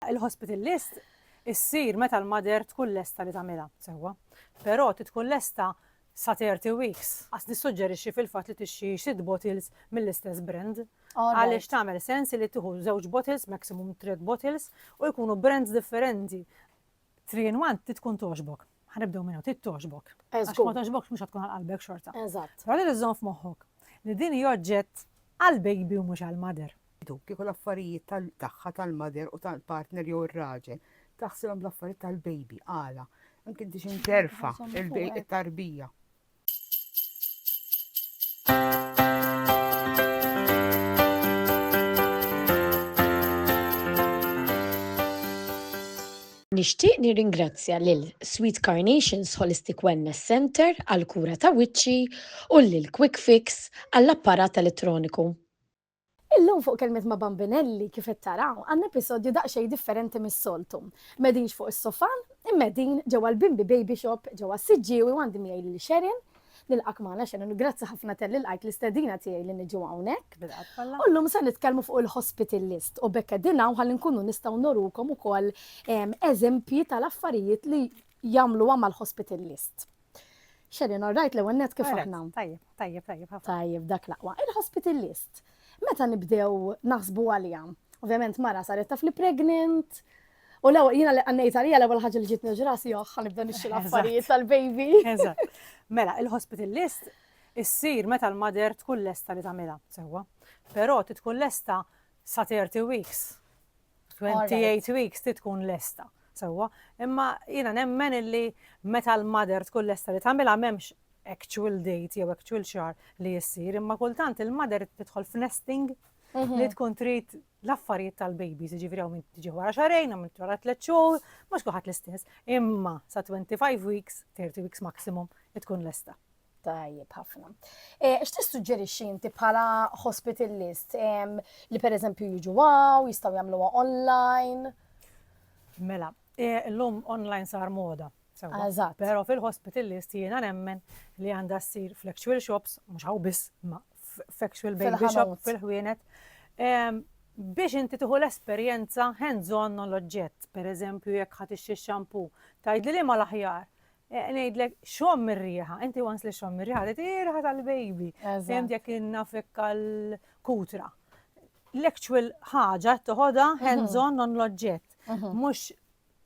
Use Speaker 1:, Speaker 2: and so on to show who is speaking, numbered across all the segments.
Speaker 1: Il-hospital list issir meta l-mother tkun lesta li tagħmilha sewwa. Però trid tkun lesta sa 30 weeks. Għas nissuġġerixxi fil-fatt li tixxi sitt bottles mill-istess brand. Għaliex tagħmel sens li tieħu żewġ bottles, maximum tliet bottles, u jkunu brands differenti. 3 in 1 trid tkun togħġbok. Ħa nibdew minnu, trid togħġbok. Eh, Għax ma togħġbokx mhux tkun għal qalbek xorta. Eżatt. Però trid iżżomm
Speaker 2: f'moħħok
Speaker 1: li din hi oġġett għal baby u mhux għal mother. Kieku l-affarijiet
Speaker 3: tagħha tal-mother u tal-partner jew ir-raġel taħsibhom bl-affarijiet tal-baby għala. Anke inti x'interfa' il-tarbija.
Speaker 2: Nixtieq nirringrazzja lil Sweet Carnations Holistic Wellness Centre għall-kura ta' wiċċi u lil Quick Fix għall-apparat elettroniku. Illum fuq Kelmiet ma' Bambinelli, kif qed taraw, għandna episodju daqsxejn differenti mis-soltu. M'qegħdinx fuq is-sofà, imma qegħdin ġewwa l-Bimbi Baby Shop ġewwa s-Siġġiewi u għandi miegħi lil Sharon. Nilqgħek magħna Sharon u grazzi ħafna talli lqajt l-istedina tiegħi li niġu hawnhekk. Bil-qalb kollha. U llum se nitkellmu fuq il-hospital list u b'hekk qegħdin hawn ħalli nkunu nistgħu nurukom ukoll eżempji tal-affarijiet li jagħmluha mal-hospital list. Xerin, all right, l-ewwel net kif aħna. Tajjeb, tajjeb, tajjeb.
Speaker 1: Tajjeb, dak laqwa.
Speaker 2: Il-hospital list. Meta nibdew naħsbu għalija. Ovvjament mara saret taf li pregnant, U l jina li għannejt għalija l-ewel ħagġa li ġitni ġrasi joħħa oh, nibda nixxi l-affarijiet tal-baby.
Speaker 1: Mela, il-hospital list issir meta l-mader tkun lesta li tagħmilha sewwa. Però tkun lesta sa 30 weeks. 28 weeks ti tkun lesta. Sewwa, imma jiena nemmen illi meta l-mother tkun lesta li tagħmilha m'hemmx actual date jew actual xar li jissir, imma kultant il-mother tidħol f'nesting mhm. li tkun trid l-affarijiet tal-babies, ġifiri għaw minn tiġi wara xarejn, għaw minn wara tlet xhur, mhux kuħat l-istess. Imma sa 25 weeks, 30 weeks maximum, tkun lesta. Tajjeb ħafna.
Speaker 2: Eh, x'tissuġġerixxi inti bħala hospital list li pereżempju jiġu għaw, jistgħu jagħmluha online?
Speaker 1: Mela, eh, l-lum online sar moda. Eżatt. Però
Speaker 2: fil-hospital
Speaker 1: list jiena nemmen li għandha ssir fl-actual shops, mhux hawn biss, ma f'actual baby shop fil-ħwienet. Biex inti tieħu l-esperjenza hands-on l-oġġett, pereżempju jekk ħadd ix-xampoo, tgħidli li ma l-aħjar Ngħidlek, xomm ir-riħa, inti once li xomm ir-riħa, tgħid hi riħa tal-baby. Fehmt jekk innafek għall-kutra. L-actual ħaġa toħodha mhm. hands-on non l-oġġett. Mhm. Mhux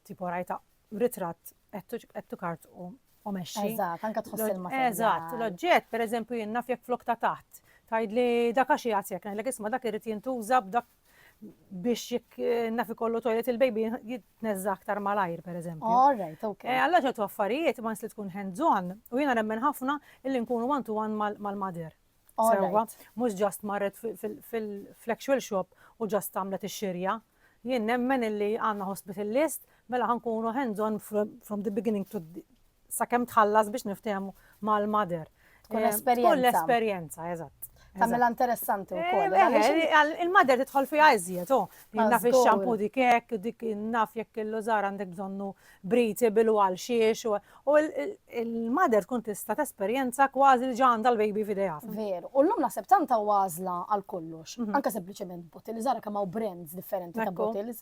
Speaker 1: tipo rajta ritratt qed tukart u u meċċi. Eżatt, anka tħoss il
Speaker 2: materjal Eżatt, l-oġġett,
Speaker 1: per eżempju, jenna fjek flok ta' taħt. Tajd li dak għaxi għasjek, naħlek isma dak irrit jintuża b'dak biex jekk eh, naf ikollu toilet il-baby jitneżza aktar malajr, per eżempju. All right, ok. Eh, Alla
Speaker 2: ċertu affarijiet
Speaker 1: ma li tkun hands-on u jiena nemmen ħafna illi nkunu one-to-one mal-mader. Sewa, mux ġast marret fil-actual shop u ġast għamlet ix-xirja. Jien nemmen illi għanna hospital list Mela ħa nkunu hands on from the beginning to sakemm tħallas biex niftehmu mal-mother. Tkun eh, esperjenza.
Speaker 2: Tkun l-esperjenza,
Speaker 1: eżatt. Tamela interessanti
Speaker 2: u koll. Eh, eh, il-mader
Speaker 1: titħol fi għazjiet, oh. Naf il-xampu dik hekk, dik naf jekk il-lużar għandek bżonnu briti bil għal xiex. U il-mader tkun tista' tesperjenza kważi li ġanda l-baby fideja. Veru. U l-lum naħseb
Speaker 2: tanta għażla għal kollox. Mhm. Anka sempliċement botils, ara kemm hawn brands differenti ta' botils.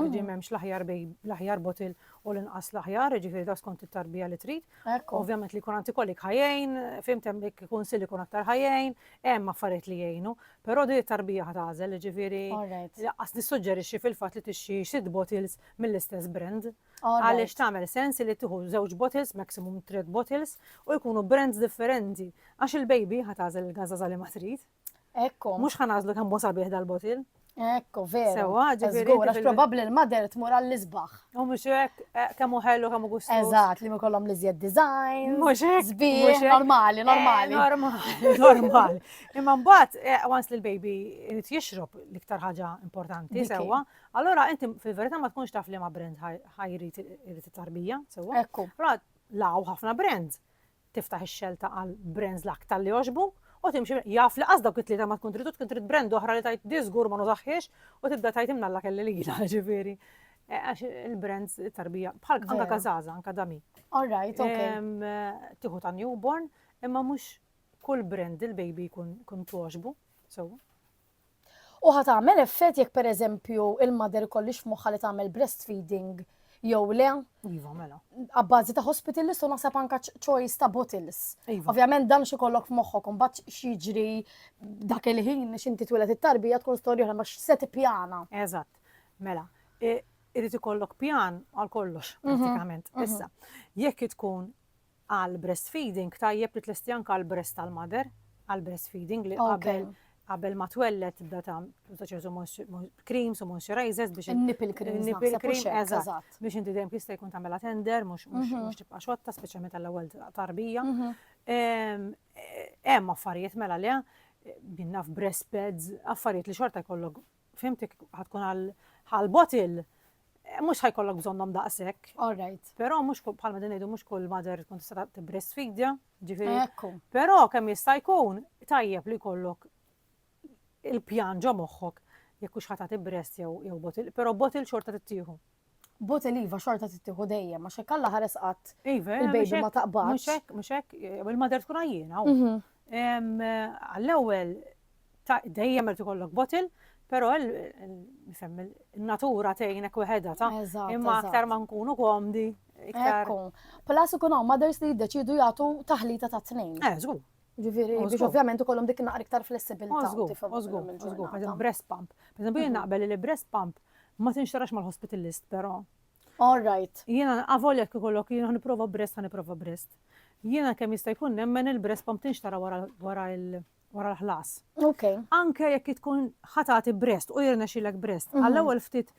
Speaker 1: Għadi memx l-aħjar bej l-aħjar botil u l-inqas l-aħjar, ġifiri ta' skont it-tarbija li trid. Ovvjament li kun antikolik ħajjajn, fimt hemm dik kun sili kun aktar ħajjajn, hemm affarijiet li jgħinu, però di tarbija ħatażel, ġifiri laqqas nissuġġerixxi fil-fatt li tixxi xid bottles mill-istess brand. Għaliex tagħmel sens li tieħu żewġ bottles, maximum trid bottles, u jkunu brands differenti. Għax il-baby ħatażel il-gażaża li ma trid. Ekku. Mhux ħa
Speaker 2: nażlu kemm hu
Speaker 1: sabiħ dal-botil. Ekku, vera.
Speaker 2: Sewa, ġifieri. Żgur, għax
Speaker 1: probabbli l-mader
Speaker 2: tmur għall-isbaħ. U mhux hekk,
Speaker 1: eh, kemm hu ħellu kemm hu gustu. Eżatt, li mikollhom li
Speaker 2: żjed design. Mhux hekk. Sbieħ,
Speaker 1: normali,
Speaker 2: eh, normali. Normali,
Speaker 1: normali. Imma mbagħad, eh, once li l-baby irid jixrob l-iktar ħaġa importanti, sewa, allora inti fil-verità ma tkunx taf li ma brand ħajrid irid it-tarbija, sewa. Ekku.
Speaker 2: Allora,
Speaker 1: law ħafna brand. tiftaħ ix-xelta għal brands l-aktar li jogħġbuk u timxi jaf li qas dawk it-tlieta ma tkun trid u tkun trid brand oħra li tgħid di żgur ma nużaħħiex u tibda tgħid imnalla kelli lilha ġifieri. Eh, għax il-brands tarbija bħal anka kazaza, anka dami. All right,
Speaker 2: ok. Tiħu ta'
Speaker 1: newborn, imma mhux kull brand il-baby jkun togħġbu. So,
Speaker 2: U ħa tagħmel effett jekk pereżempju il-mother ikollix f'moħħha li tagħmel breastfeeding jew le. Iva, mela.
Speaker 1: Abbażi ta' hospital
Speaker 2: list u naħseb anka choice ta' bottles. Iva. Ovvjament dan xi
Speaker 1: kollok
Speaker 2: f'moħħok imbagħad x'jiġri dak il-ħin x'inti twiled it-tarbija tkun storja oħra ma x'se tippjana. Eżatt.
Speaker 1: Mela, irid ikollok pjan għal kollox, mhm, pratikament. Mhm. Issa, jekk tkun Għal breastfeeding tajjeb li tlesti anke għal breast tal-mother, għal breastfeeding li qabel qabel ma twelled tibda tagħmel ta' ċertu creams u moisturizers biex In-nipple creams nipple naħseb u
Speaker 2: cream xekk, eżatt eżatt.
Speaker 1: biex inti dejjem jista' jkun tagħmilha tender mhux mhux Mhm. mhux tibqa' xotta speċjalment għall-ewwel tarbija. Mhm. Ehm, eh, Hemm affarijiet mela le, eh, minna f'breast pads, affarijiet li xorta jkollok fimtik ħad tkun għal ħal bottle mhux ħajkollok bżonnhom daqshekk. All right. Però
Speaker 2: mhux bħalma din
Speaker 1: ngħidu mhux kull mother tkun tista' tibbrestfidja, ġifieri. Ekku. Però
Speaker 2: kemm jista'
Speaker 1: jkun tajjeb li jkollok il-pjan ġo moħħok jekk hux ħata tibbrest jew jew botil, però botil xorta tittieħu. Bot il-iva
Speaker 2: xorta tittieħu dejjem, għax hekk Alla ħares qatt Iva, il-baby mhux ma hekk,
Speaker 1: taqbadx. Mhux
Speaker 2: hekk, mhux hekk, jew
Speaker 1: il-mader tkun għajjiena. u- Mhm. Em, Għall-ewwel ta' dejjem irid ikollok botil, però il- il- nifhem, il- in-natura tgħinek weħedha ta' Eżatt, imma eżatt. aktar ma nkunu komdi, iktar. Ekku.
Speaker 2: Plus ikun hawn mothers li jiddeċiedu jagħtu taħlita ta' tnejn. Eh, żgur. Ġifieri
Speaker 1: oh, biex
Speaker 2: ovvjament ikollhom dik naqra iktar flessibilità. Oh, żgur, oh, żgur, żgur,
Speaker 1: pereżempju breast pump. Pereżempju jien mhm. naqbel li breast pump ma tinxtarax mal-hospital list però. All right.
Speaker 2: Jiena avolja jekk
Speaker 1: ikollok jiena nipprova breast ħa nipprova breast. Jiena kemm jista' jkun nemmen il-breast pump tinxtara wara il- wara l-ħlas. Ok.
Speaker 2: Anke jekk tkun
Speaker 1: ħatati breast u jirna xilek breast, mhm. għall-ewwel ftit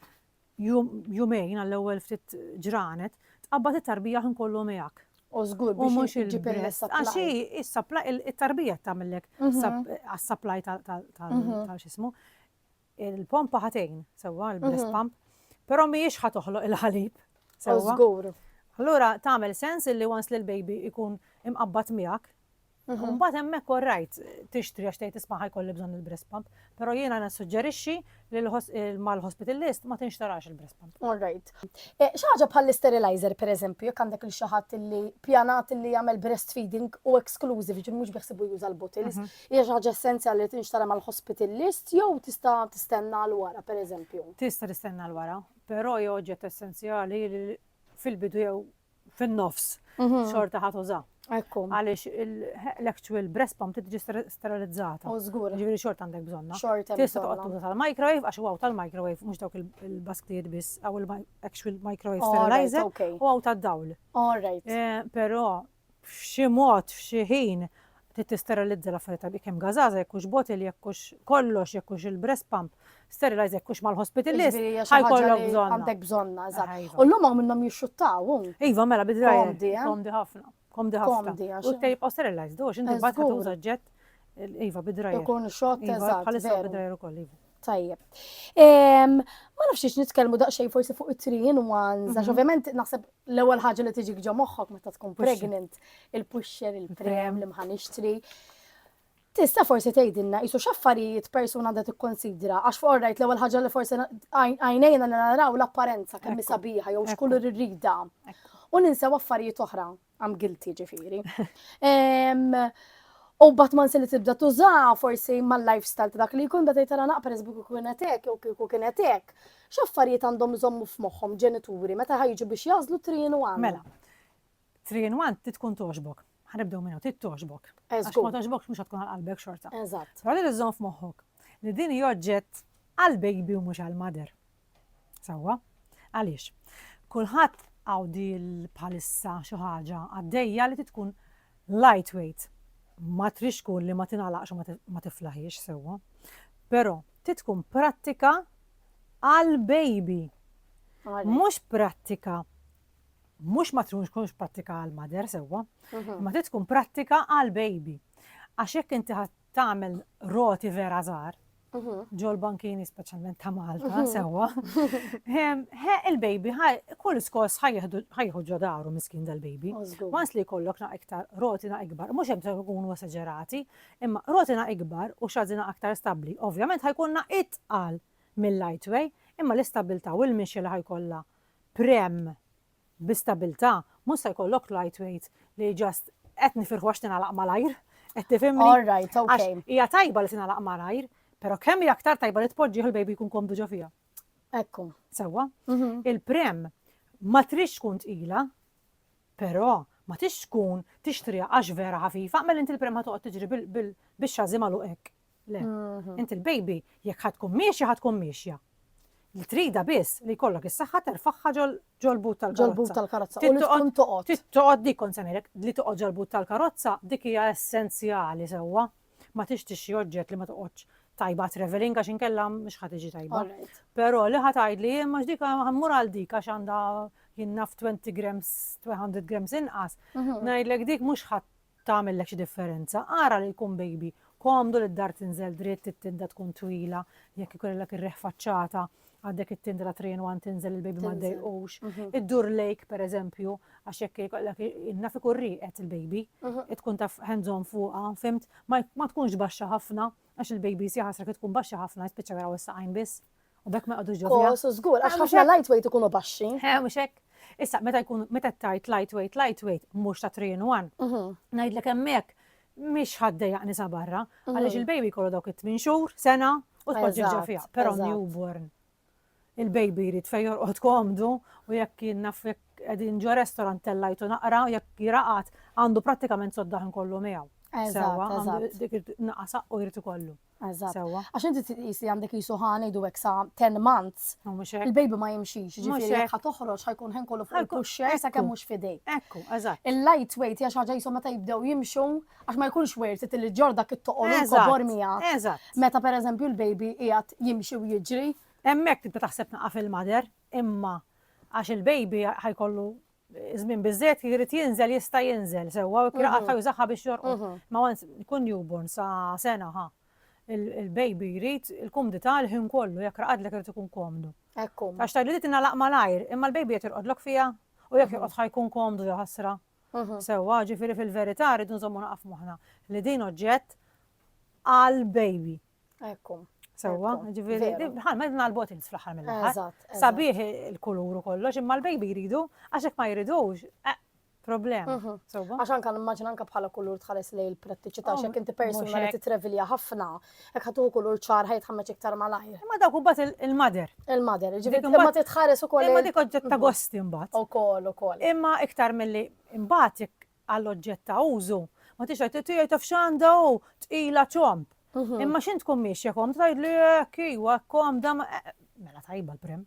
Speaker 1: Jum, jumejn għall-ewwel ftit ġranet, tqabbad it-tarbija ħin kollu miegħek. U żgur biex
Speaker 2: iġib il-supply. Għax hi
Speaker 1: is-supply, it-tarbija tagħmellek mhm. għas-supply mhm. ta' x'ismu. Il-pompa ħatejn, sewwa, il-breast mhm. pump, però mhijiex ħa toħloq il-ħalib. Sewwa. Żgur.
Speaker 2: Allura
Speaker 1: tagħmel sens li once li l-baby ikun imqabbad miegħek, Mhm. Mbagħad hemmhekk all right tixtri għax tgħid isma' ħajkolli bżonn il-breast pump, però jiena nissuġġerixxi li mal-hospital list ma tinxtarax il-breast pump. All right.
Speaker 2: Eh, xi ħaġa bħall-sterilizer pereżempju, jekk għandek il xi ħadd li pjanat li jagħmel breastfeeding u exclusive, ġifieri mhux biħsibu juża l-bottles, mhm. hija xi ħaġa essenzjali li tinxtara mal-hospital list jew tista' tistenna l wara pereżempju. Tista' tistenna l
Speaker 1: wara, però hija oġġett essenzjali fil-bidu jew fin-nofs xorta ħat uża. Ekku. Għaliex l-actual breast pump tiġi sterilizzata. U żgur. Ġifieri
Speaker 2: xorta għandek bżonna.
Speaker 1: Xorta. Tista' toqgħod tuża
Speaker 2: tal-microwave
Speaker 1: għax huwa tal-microwave mhux dawk il-basktijiet biss aw il-actual microwave sterilizer u għaw tad-dawl. All right. Eh,
Speaker 2: però
Speaker 1: f'xi mod f'xi ħin trid tisterilizza l-affarijiet tal kemm gazaza, jekk hux bottle, jekk hux kollox, jekk hux il-breast pump, sterilize jekk hux mal-hospital list, ħajkollok bżonn. Għandek bżonna, eżatt.
Speaker 2: Ah, u l-lum minnhom jixxuttaw. Iva, mela bidrajja.
Speaker 1: Komdi, eh? Komdi ħafna.
Speaker 2: Komdi
Speaker 1: ħafna. U tejb u sterilize, dux, inti bat tuża ġett. Iva, bidrajja. Ikun xott, iva, eżatt.
Speaker 2: Bħalissa bidrajja ukoll,
Speaker 1: iva. Tajjeb.
Speaker 2: Ma nafx ix nitkellmu daqsxejn forsi fuq it-three in ones, għax mhm. ovvjament naħseb l-ewwel ħaġa li tiġi ġo moħħok meta tkun pregnant, il-pusher, il-prem, li mħan ixtri. Tista' forsi tgħidilna qisu x'affarijiet persuna għandha tikkonsidra għax fuq rajt l-ewwel ħaġa li forsi għajnejna naraw l-apparenza kemm sabiħa jew x'kulur irrida. U ninsew affarijiet oħra. I'm guilty ġifiri. U bat man se li tibda tuża forsi mal-lifestyle ta' dak li jkun bada jtara naqper eżbu kiku kienet hekk jew kiku kienet hekk. X'affarijiet għandhom iżommu f'moħħhom ġenituri meta ħajġu biex jażlu trienu għan? Mela,
Speaker 1: trienu għan titkun toġbok. Ħanibdew minnu tit toġbok. Għax ma toġbok mhux tkun għal qalbek xorta. Eżatt. Però li tiżżomm
Speaker 2: f'moħħok
Speaker 1: li din joġġett għal baby u mhux għal mother. Sewwa. Għaliex? Kulħadd għawdi bħalissa xi ħaġa għaddejja li tkun lightweight. Ma trix tkun li ma tingħalaqx u ma tiflaħiex sewwa. Però trid tkun prattika għal baby. Mhux prattika mhux ma tkunx prattika għal mother sewwa, mhm. ma trid tkun prattika għal baby. Għax jekk inti tagħmel roti vera żgħar ġol-bankini speċjalment ta' Malta, sewwa. He il-baby, kull skos ħajħu ġodaru miskin dal-baby. Mas li kollok na' iktar rotina ikbar, mux hemm ikunu esagerati, imma rotina ikbar u xazina aktar stabli. Ovvjament ħajkunna itqal mill-lightway, imma l-istabilta u l-mixi li ħajkolla prem bi stabilta, mhux se jkollok lightweight li just qed nifirħu għax tingħalaq malajr. Qed tifhimni? All right, okay.
Speaker 2: Hija tajba li tingħalaq
Speaker 1: malajr, però kemm hija aktar tajba li tpoġġih il-baby jkun komdu ġo fiha. Ekku.
Speaker 2: Sewwa. Mhm.
Speaker 1: Il-prem ma trix tkun tqila, però ma tix tkun tixtrija għax vera ħafifa, mela inti l-prem ħatoqgħod tiġri bix-xażi magħluq hekk. Le. Mhm. Inti l-baby jekk ħad tkun miexja ħad tkun miexja. Li trida biss li jkollok is-saħħa terfaħħa ġol-but tal-karozza. Ġol-but tal-karozza. U tkun toqgħod.
Speaker 2: Tittoqgħod dik kont semmejlek
Speaker 1: li toqgħod ġol-but tal-karozza dik hija essenzjali sewwa. Ma tixtiex xi oġġett li ma toqgħodx tajba traveling għax inkella mhux ħad iġi tajba. Però li ħad tgħidli jien mhux dik ħammur għal dik għax għandha jinnaf 20 grams, 200 grams inqas. Mhm. Ngħidlek dik mhux ħadd tagħmillek xi differenza, ara li jkun bejbi komdu li d-dar tinżel dritt, it-tinda tkun twila, jekk ikollilek ir-riħ faċċata, għandek it-tinda ta' three in one tinżel il-bejbi ma ddejqux, iddur lejk pereżempju għax jekk ikollek naf ikun rieqed il-bejbi, tkun taf hands on fuqha, fimt? Ma tkunx baxxa ħafna għax il-bejbi jsieħ għasra kif tkun baxxa ħafna jispiċċa jaraw is-saqajn biss. U bekk ma jqogħdux ġo fija. Su żgur, għax ħafna
Speaker 2: lightweight ikunu baxxi. Eh, mhux hekk.
Speaker 1: Issa, meta jkun meta tajt lightweight, lightweight, mhux ta' 3 in 1. Mhm. Ngħidlek hemmhekk mhix ħaddejja nisa barra, mhm. għaliex il-baby kollu dawk it-tmin xhur, sena, u tpoġġi ġo fija. Però newborn. Il-baby jrid fejn jorqod komdu u jekk jien naf jekk qegħdin ġo restaurant tellajtu naqra u jekk jiraqat għandu prattikament soddaħ kollu miegħu. Eżatt, eżatt.
Speaker 2: Dik naqasaq
Speaker 1: u jrid ikollu. Eżatt. Sewwa. Għax
Speaker 2: inti trid tqis
Speaker 1: li għandek
Speaker 2: qisu ħa ngħidu hekk sa ten months, U mhux hekk. il-baby ma
Speaker 1: jimxix, Mhux jiġifieri
Speaker 2: hekk. jekk ħa toħroġ
Speaker 1: ħa
Speaker 2: jkun ħin kollu fuq Ħa jkun- il-pusher ekku. sakemm mhux f'idejk. Ekku, eżatt.
Speaker 1: Il-light weight hija xi
Speaker 2: ħaġa qishom meta jibdew jimxu għax ma jkunx worth it li ġġorr dak it-toqol u Eżatt, l-kobor miegħek. Eżatt. Meta pereżempju
Speaker 1: l-baby
Speaker 2: qiegħed jimxi u jiġri, Hemmhekk tibda taħseb
Speaker 1: tnaqqas il-mother, imma għax il-baby ħa jkollu żmien biżżejjed jrid jinżel jista' jinżel sewwa u jkun qatta' jużaha biex jorqod. Ma once jkun newborn sa sena ħa il-baby jrid il-kumdità l-ħin kollu jekk raqadlek irid ikun komdu. Ekku. Għax tgħidli li
Speaker 2: tingħalaq
Speaker 1: malajr, imma l-baby qed jorqodlok fiha u jekk jorqod ħa jkun komdu ja ħasra. Sewwa, ġifieri fil-verità rridu nżommu naqaf moħħna li din oġġett għall-baby. Ekku.
Speaker 2: Sewwa,
Speaker 1: ġifieri, bħalma qed nagħlbu tins fl-aħħar mill-aħħar. Sabiħ
Speaker 2: il-kulur
Speaker 1: u kollox, imma l-baby jridu, għax hekk ma jridux, eh, problem. Mhm. Sewwa. Għax anke nimmaġina anke
Speaker 2: bħala kulur tħares lej il-prattiċità oh, x'hekk inti persuna li titrevilja ħafna, hekk ħatu kulur ċar ħajt ħammeġ iktar malajr. Imma dawk u bat
Speaker 1: il-mader. Il-mader, ġifieri
Speaker 2: imma titħares
Speaker 1: ukoll.
Speaker 2: Imma
Speaker 1: dik
Speaker 2: oġġett ta' mhm. gosti
Speaker 1: mbagħad. Ukoll, ukoll. Imma
Speaker 2: iktar milli
Speaker 1: imbagħad għal oġġett ta' użu, ma tridx tgħid tiegħi taf x'għandha hu, tqila ċomb. Imma x'int tkun miexja kom, tgħidli hekk iwa komda eh, mela tajba l-prim.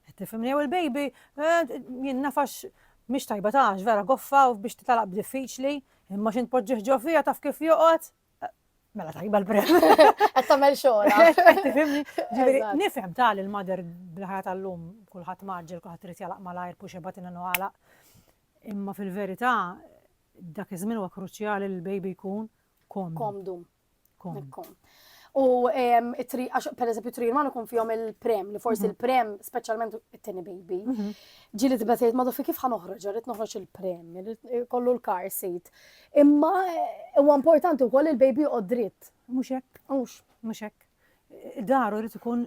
Speaker 1: Qed tifhimni jew il-baby eh, jien nafax mhix tajba tax vera goffa u biex titalaq b'diffiċli, imma x'int poġġih ġo fija taf kif joqgħod. Eh, mela tajba l-prim. Qed tagħmel
Speaker 2: xogħol.
Speaker 1: Ġifieri nifhem tal il-mader bl-ħajja tal-lum kulħadd maġġel kulħadd irid jalaq malajr puxebat inna għalaq Imma fil-verità dak iż-żmien huwa kruċjali li l-baby jkun komdu. Komdu.
Speaker 2: Komdu. U per eżempju tri jman ikun fihom il-prem, li forsi mhm. il-prem, speċjalment it-tini baby, mhm. ġili tibda tgħid ma fi kif ħanoħroġ, rrid noħroġ il-prem, eh, kollu l-car seat. Imma eh, huwa importanti wkoll il-baby u dritt. Mhux hekk. Mhux.
Speaker 1: Mhux hekk. Daru rrid ikun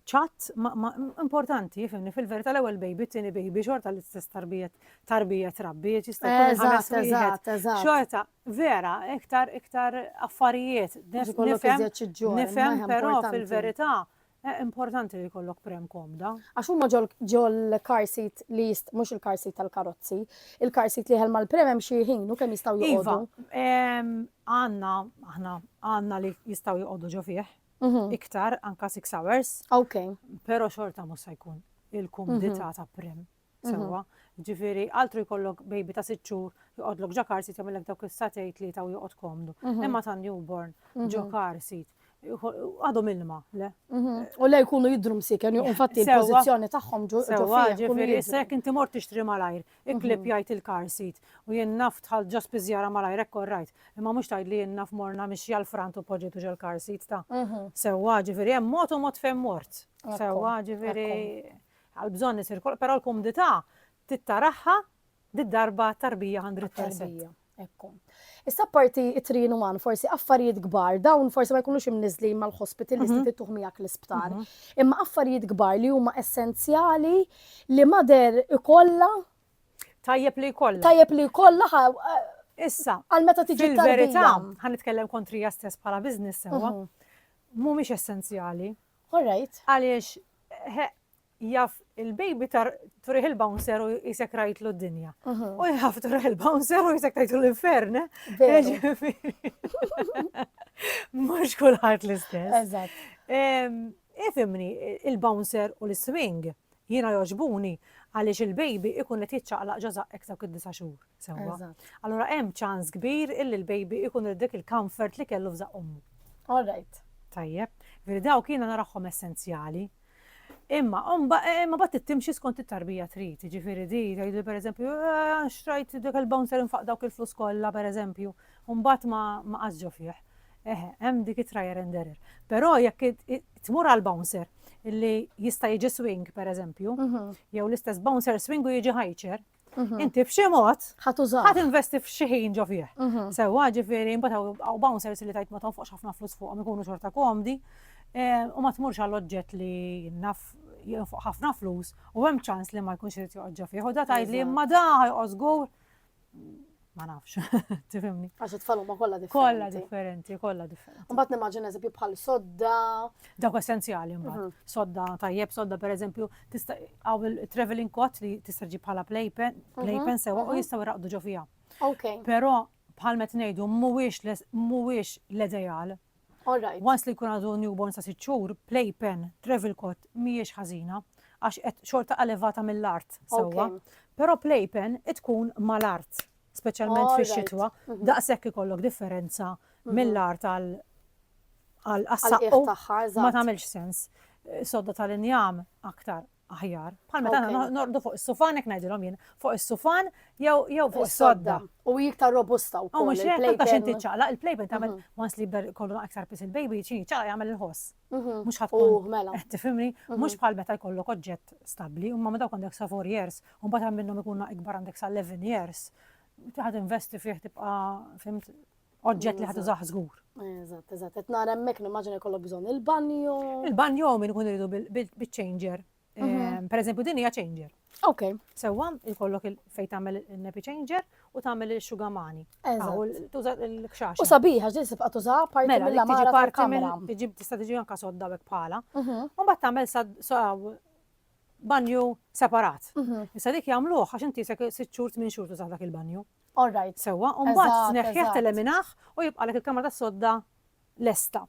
Speaker 1: ċatt ma, ma importanti, fimni, fil-verità l-ewwel baby, t-tieni baby, xorta l-istess tarbija, tarbija trabbi, jista' jkun ħames wieħed. Xorta, vera, iktar iktar affarijiet. Nifhem, nifhem, però fil-verità eh, importanti li jkollok prem komda. Għax huma
Speaker 2: ġol car seat li jist mhux il-car seat tal-karozzi, il-car seat li ħelma l-prem hemm xi ħin u kemm jistgħu iva, joqogħdu. Għandna
Speaker 1: aħna għandna li jistgħu joqogħdu ġo fih, iktar anka 6 hours. Ok.
Speaker 2: Pero xorta
Speaker 1: mhux se jkun il-kumdità ta' prim. Sewwa. Ġifieri altru jkollok baby ta' sitt xhur joqgħodlok ġa car seat jagħmellek dawk is-satej tlieta u joqgħod komdu. Imma ta' newborn ġo car seat għadhom ilma, le? U le jkunu
Speaker 2: jidhru msieken, infatti il-pożizzjoni tagħhom
Speaker 1: ġo fih.
Speaker 2: Sewwa, ġifieri issa
Speaker 1: jekk inti
Speaker 2: mort tixtri
Speaker 1: malajr, Iqleb jgħid il-car seat. U jien naf dħalt ġo spiżjara malajr hekk orrajt. Imma mhux tgħid li jien naf morna mixja l-frant u poġġejtu ġol-car seat ta' sewwa, ġifieri hemm mod u mod fejn mort. Sewwa, ġifieri għall-bżonn isir kollox, però l-kumdità tittarahha d-darba t-tarbija hundred percent. Ekku.
Speaker 2: Issa apparti it-trin uman, forsi affarijiet kbar, dawn forsi ma jkunux imniżlin mal-hospital li mhm. se tittuħ miegħek l-isptar. Mhm. Imma affarijiet kbar li huma essenzjali li mader ikolla tajjeb
Speaker 1: li jkollha. Tajjeb li jkollha eh,
Speaker 2: Issa,
Speaker 1: għal meta tiġi
Speaker 2: fil-verità, ħan
Speaker 1: nitkellem
Speaker 2: kontrija stess
Speaker 1: bħala business sewa, mhm. mhumiex essenzjali. All right.
Speaker 2: Għaliex
Speaker 1: Jaf il-baby tar turih il-bouncer u jisek rajtlu d-dinja. U jaf turih il-bouncer u jisek tajtlu l-infern. Mux kullħat l-istess. Eżat.
Speaker 2: Ifimni,
Speaker 1: il-bouncer u l-swing jina joġbuni għaliex il-baby ikun qed jiċċaqlaq ġoza ektar kid disa' xhur. Sewwa. Allura hemm
Speaker 2: ċans
Speaker 1: kbir illi l-baby ikun dik il-comfort li kellu f'żaq ummu. All right.
Speaker 2: Tajjeb, veri
Speaker 1: dawk jiena naraħħom essenzjali. Imma, umba, eh, imma bat timxi skont it-tarbija trid, ġifiri di, tgħidu per eżempju, eh, xtrajt dak il-bouncer infaq dawk il-flus kollha per eżempju, umbat ma qasġo fih. Eh, hemm dik it-trajer and error. Però jekk tmur għal bouncer li jista' jiġi swing per eżempju, mhm. jew l-istess bouncer swing u jiġi ħajċer, Mhm. Inti b'xi mod ħadd użaw. Ħadd investi
Speaker 2: f'xi ħin
Speaker 1: ġo fih. Mhm. Sewwa ġifieri mbagħad hawn bouncers li tajt ma tonfoqx ħafna flus fuqhom ikunu xorta komdi eh, u ma tmurx għall oġġett li naf jinfoq ħafna flus u hemm ċans li ma jkunx irid joqgħod ġo fih. U da tgħid li ma da ħajqos żgur ma nafx, tifimni. Għax it-tfal huma kollha
Speaker 2: differenti. Kollha differenti,
Speaker 1: kollha differenti.
Speaker 2: Mbagħad
Speaker 1: nimmaġina eżempju bħal
Speaker 2: sodda. Dawk
Speaker 1: essenzjali mbagħad. Mhm. Sodda tajjeb, sodda pereżempju tista' għaw il-traveling coat li tista' ġib bħala playpen, mhm. playpen sewa u mhm. jistgħu jraqdu ġo fiha. Ok. Però
Speaker 2: bħal
Speaker 1: met ngħidu mhuwiex mhuwiex l-ideal Alright, once
Speaker 2: li jkun għadu newborn
Speaker 1: sa' sitt xhur, playpen, travel cot mhijiex ħażina għax qed xorta elevata mill-art sewwa. Però playpen tkun mal-art, speċjalment fix-xitwa, daqshekk ikollok differenza mill-art għal għas-saqqu ma tagħmilx sens. Sodda tal-injam aktar aħjar. Bħal meta aħna norqdu fuq is-sufan hekk ngħidilhom jien, fuq is-sufan jew fuq is-sodda. U iktar robusta
Speaker 2: wkoll. U mhux hekk ta' xi tiċċaqlaq
Speaker 1: il-playpen tagħmel mhm. once li jibda kollu aktar pis il-baby xi ċaqlaq jagħmel il-ħoss. Mhm. Mhux ħadd tkun oh, mela. qed tifhimni, mhm.
Speaker 2: mhux
Speaker 1: bħal meta jkollok oġġett stabbli, imma meta għandek sa 4 years, u mbagħad minnhom ikun ikbar għandek sa 11 years, tiħad investi fih tibqa' fimt oġġett li ħad użaħ żgur. Eżatt, eżatt, qed
Speaker 2: nara hemmhekk nimmaġina jkollok bżonn il-banjo. Il-banjo min ikun
Speaker 1: iridu biċ-changer. Mhm. Ehm, per eżempju, din hija changer. Ok. Sewwa,
Speaker 2: ikollok
Speaker 1: fej tagħmel il-nappy changer u tagħmel il-xugamani. Tuża l-kxax. U sabiħa, ġil sibqa
Speaker 2: tuża parti mela, mill mara parti mill tista' tiġi anka
Speaker 1: sodda bek bħala. Mhm. U mbagħad tagħmel banju separat. Mhm. Issa dik jagħmluh għax inti se sitt xhur minn xhur tuża dak il-banju. All right. Sewwa,
Speaker 2: u mbagħad Eżatt, tneħħih,
Speaker 1: eżatt. teliminah u jibqalek il-kamra tas-sodda lesta.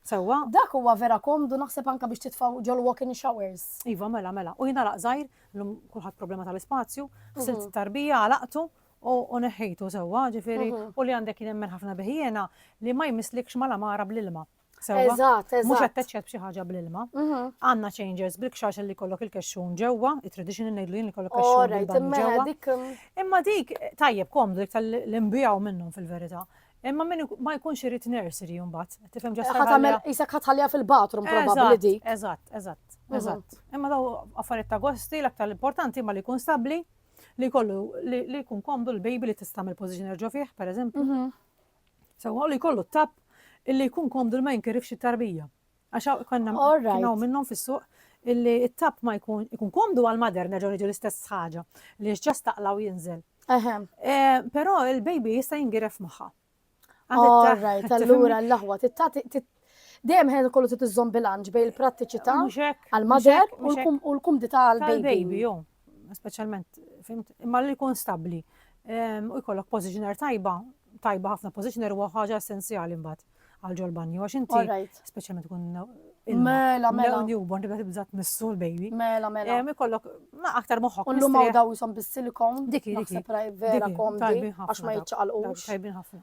Speaker 1: Sewwa? Dak huwa vera
Speaker 2: komdu naħseb anke biex titfgħu ġol-walk-in showers. Iva, mela, mela. U
Speaker 1: jingħalaq żgħir, illum kulħadd problema tal-ispazju, ħsilt it-tarbija, għalaqtu u u neħħejtu sewwa, ġifieri, u li għandek jien nemmen ħafna bih jiena li ma jmisslikx mal-għamara bl-ilma. Sewwa. Eżatt,
Speaker 2: Mhux eżatt. attached b'xi
Speaker 1: ħaġa bl-ilma. Mhm. Għandna changers bil-kxax li jkollok il-kexxun ġewwa, it-traditional ngħidlu jien li jkollok kexxun Alright, bil-banju imma ġewwa. dik mm, Imma dik tajjeb komdu dik tal-imbijaw minnhom fil-verità. Imma min ik- ma jkunx irid nursery mbagħad. Tifhem ġast ħat tagħmel isek ħat ħallija
Speaker 2: fil-bathroom probabbli dik. Mhm. Eżatt, eżatt, eżatt.
Speaker 1: Imma daw affarijiet ta' gosti, l-aktar l-importanti imma li jkun stabbli, li jkollu li li jkun komdu l-baby li tista' tagħmel position erġgħu fih, pereżempju. Mhm. Sewwa u li jkollu t-tapp illi jkun komdu li ma jinkirifx it-tarbija. Għax hawn konna kien hawn minnhom fis-suq illi t-tapp ma jkun ikun komdu għall-mother nerġgħu niġu l-istess ħaġa li jiex ġast taqla' u jinżel. Però l-baby jista' jingiref magħha. All
Speaker 2: right, allura l-aħwa Dejjem ħajja kollu trid iżżomm bilanċ bejn il-prattiċità għall-mother u l-kumdità għall-baby. Speċjalment,
Speaker 1: fimt, imma li jkun stabbli. Ehm, u jkollok positioner tajba, tajba ħafna positioner huwa ħaġa essenzjali mbagħad għal ġol banju għax inti speċjalment tkun Mela, mela.
Speaker 2: Newborn tibda tibda
Speaker 1: tmissu l-baby. Mela, mela. Ehm, ikollok ma aktar moħħok. Ullu ma daw jisom
Speaker 2: bis-silikon. Diki, diki. Vera komdi. Għax ma jitċaqalqux. Tajbin ħafna.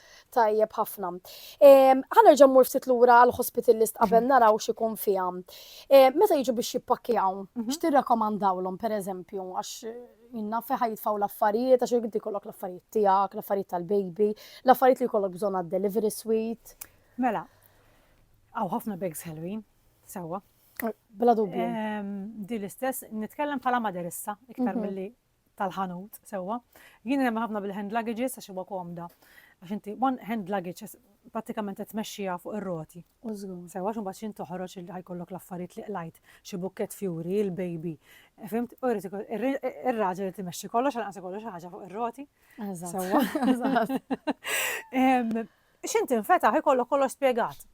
Speaker 1: Tajjeb ħafna.
Speaker 2: Ħanerġa' mmur ftit lura għal hospital list qabel naraw x'ikun fiha. Meta jiġu biex jippakkjaw, mhm. x'tirrakkomandawlhom pereżempju għax minna feħa jitfaw l-affarijiet, għax jgħid kollok l-affarijiet tiegħek, l-affarijiet tal-baby, l-affarijiet li jkollok bżonn għad-delivery suite. Mela,
Speaker 1: għaw ħafna bags ħelwin, sewa. Bla
Speaker 2: dubju. Di l-istess,
Speaker 1: nitkellem bħala maderissa, iktar mhm. mill-li tal-ħanut sewwa. Jien nemmen ħafna bil-hand luggages għax huwa komda. Għax inti one hand luggage pratikament qed tmexxiha fuq ir-roti. Sewwa xi mbagħad x'in toħroġ li ħajkollok l-affarijiet li qlajt, xi bukkett fjuri, il-baby. Fimt? U jrid ir-raġel irid imexxi kollox għal anqas ikollu xi ħaġa fuq ir-roti. Sewwa. X'int infetaħ ikollok kollox spjegat.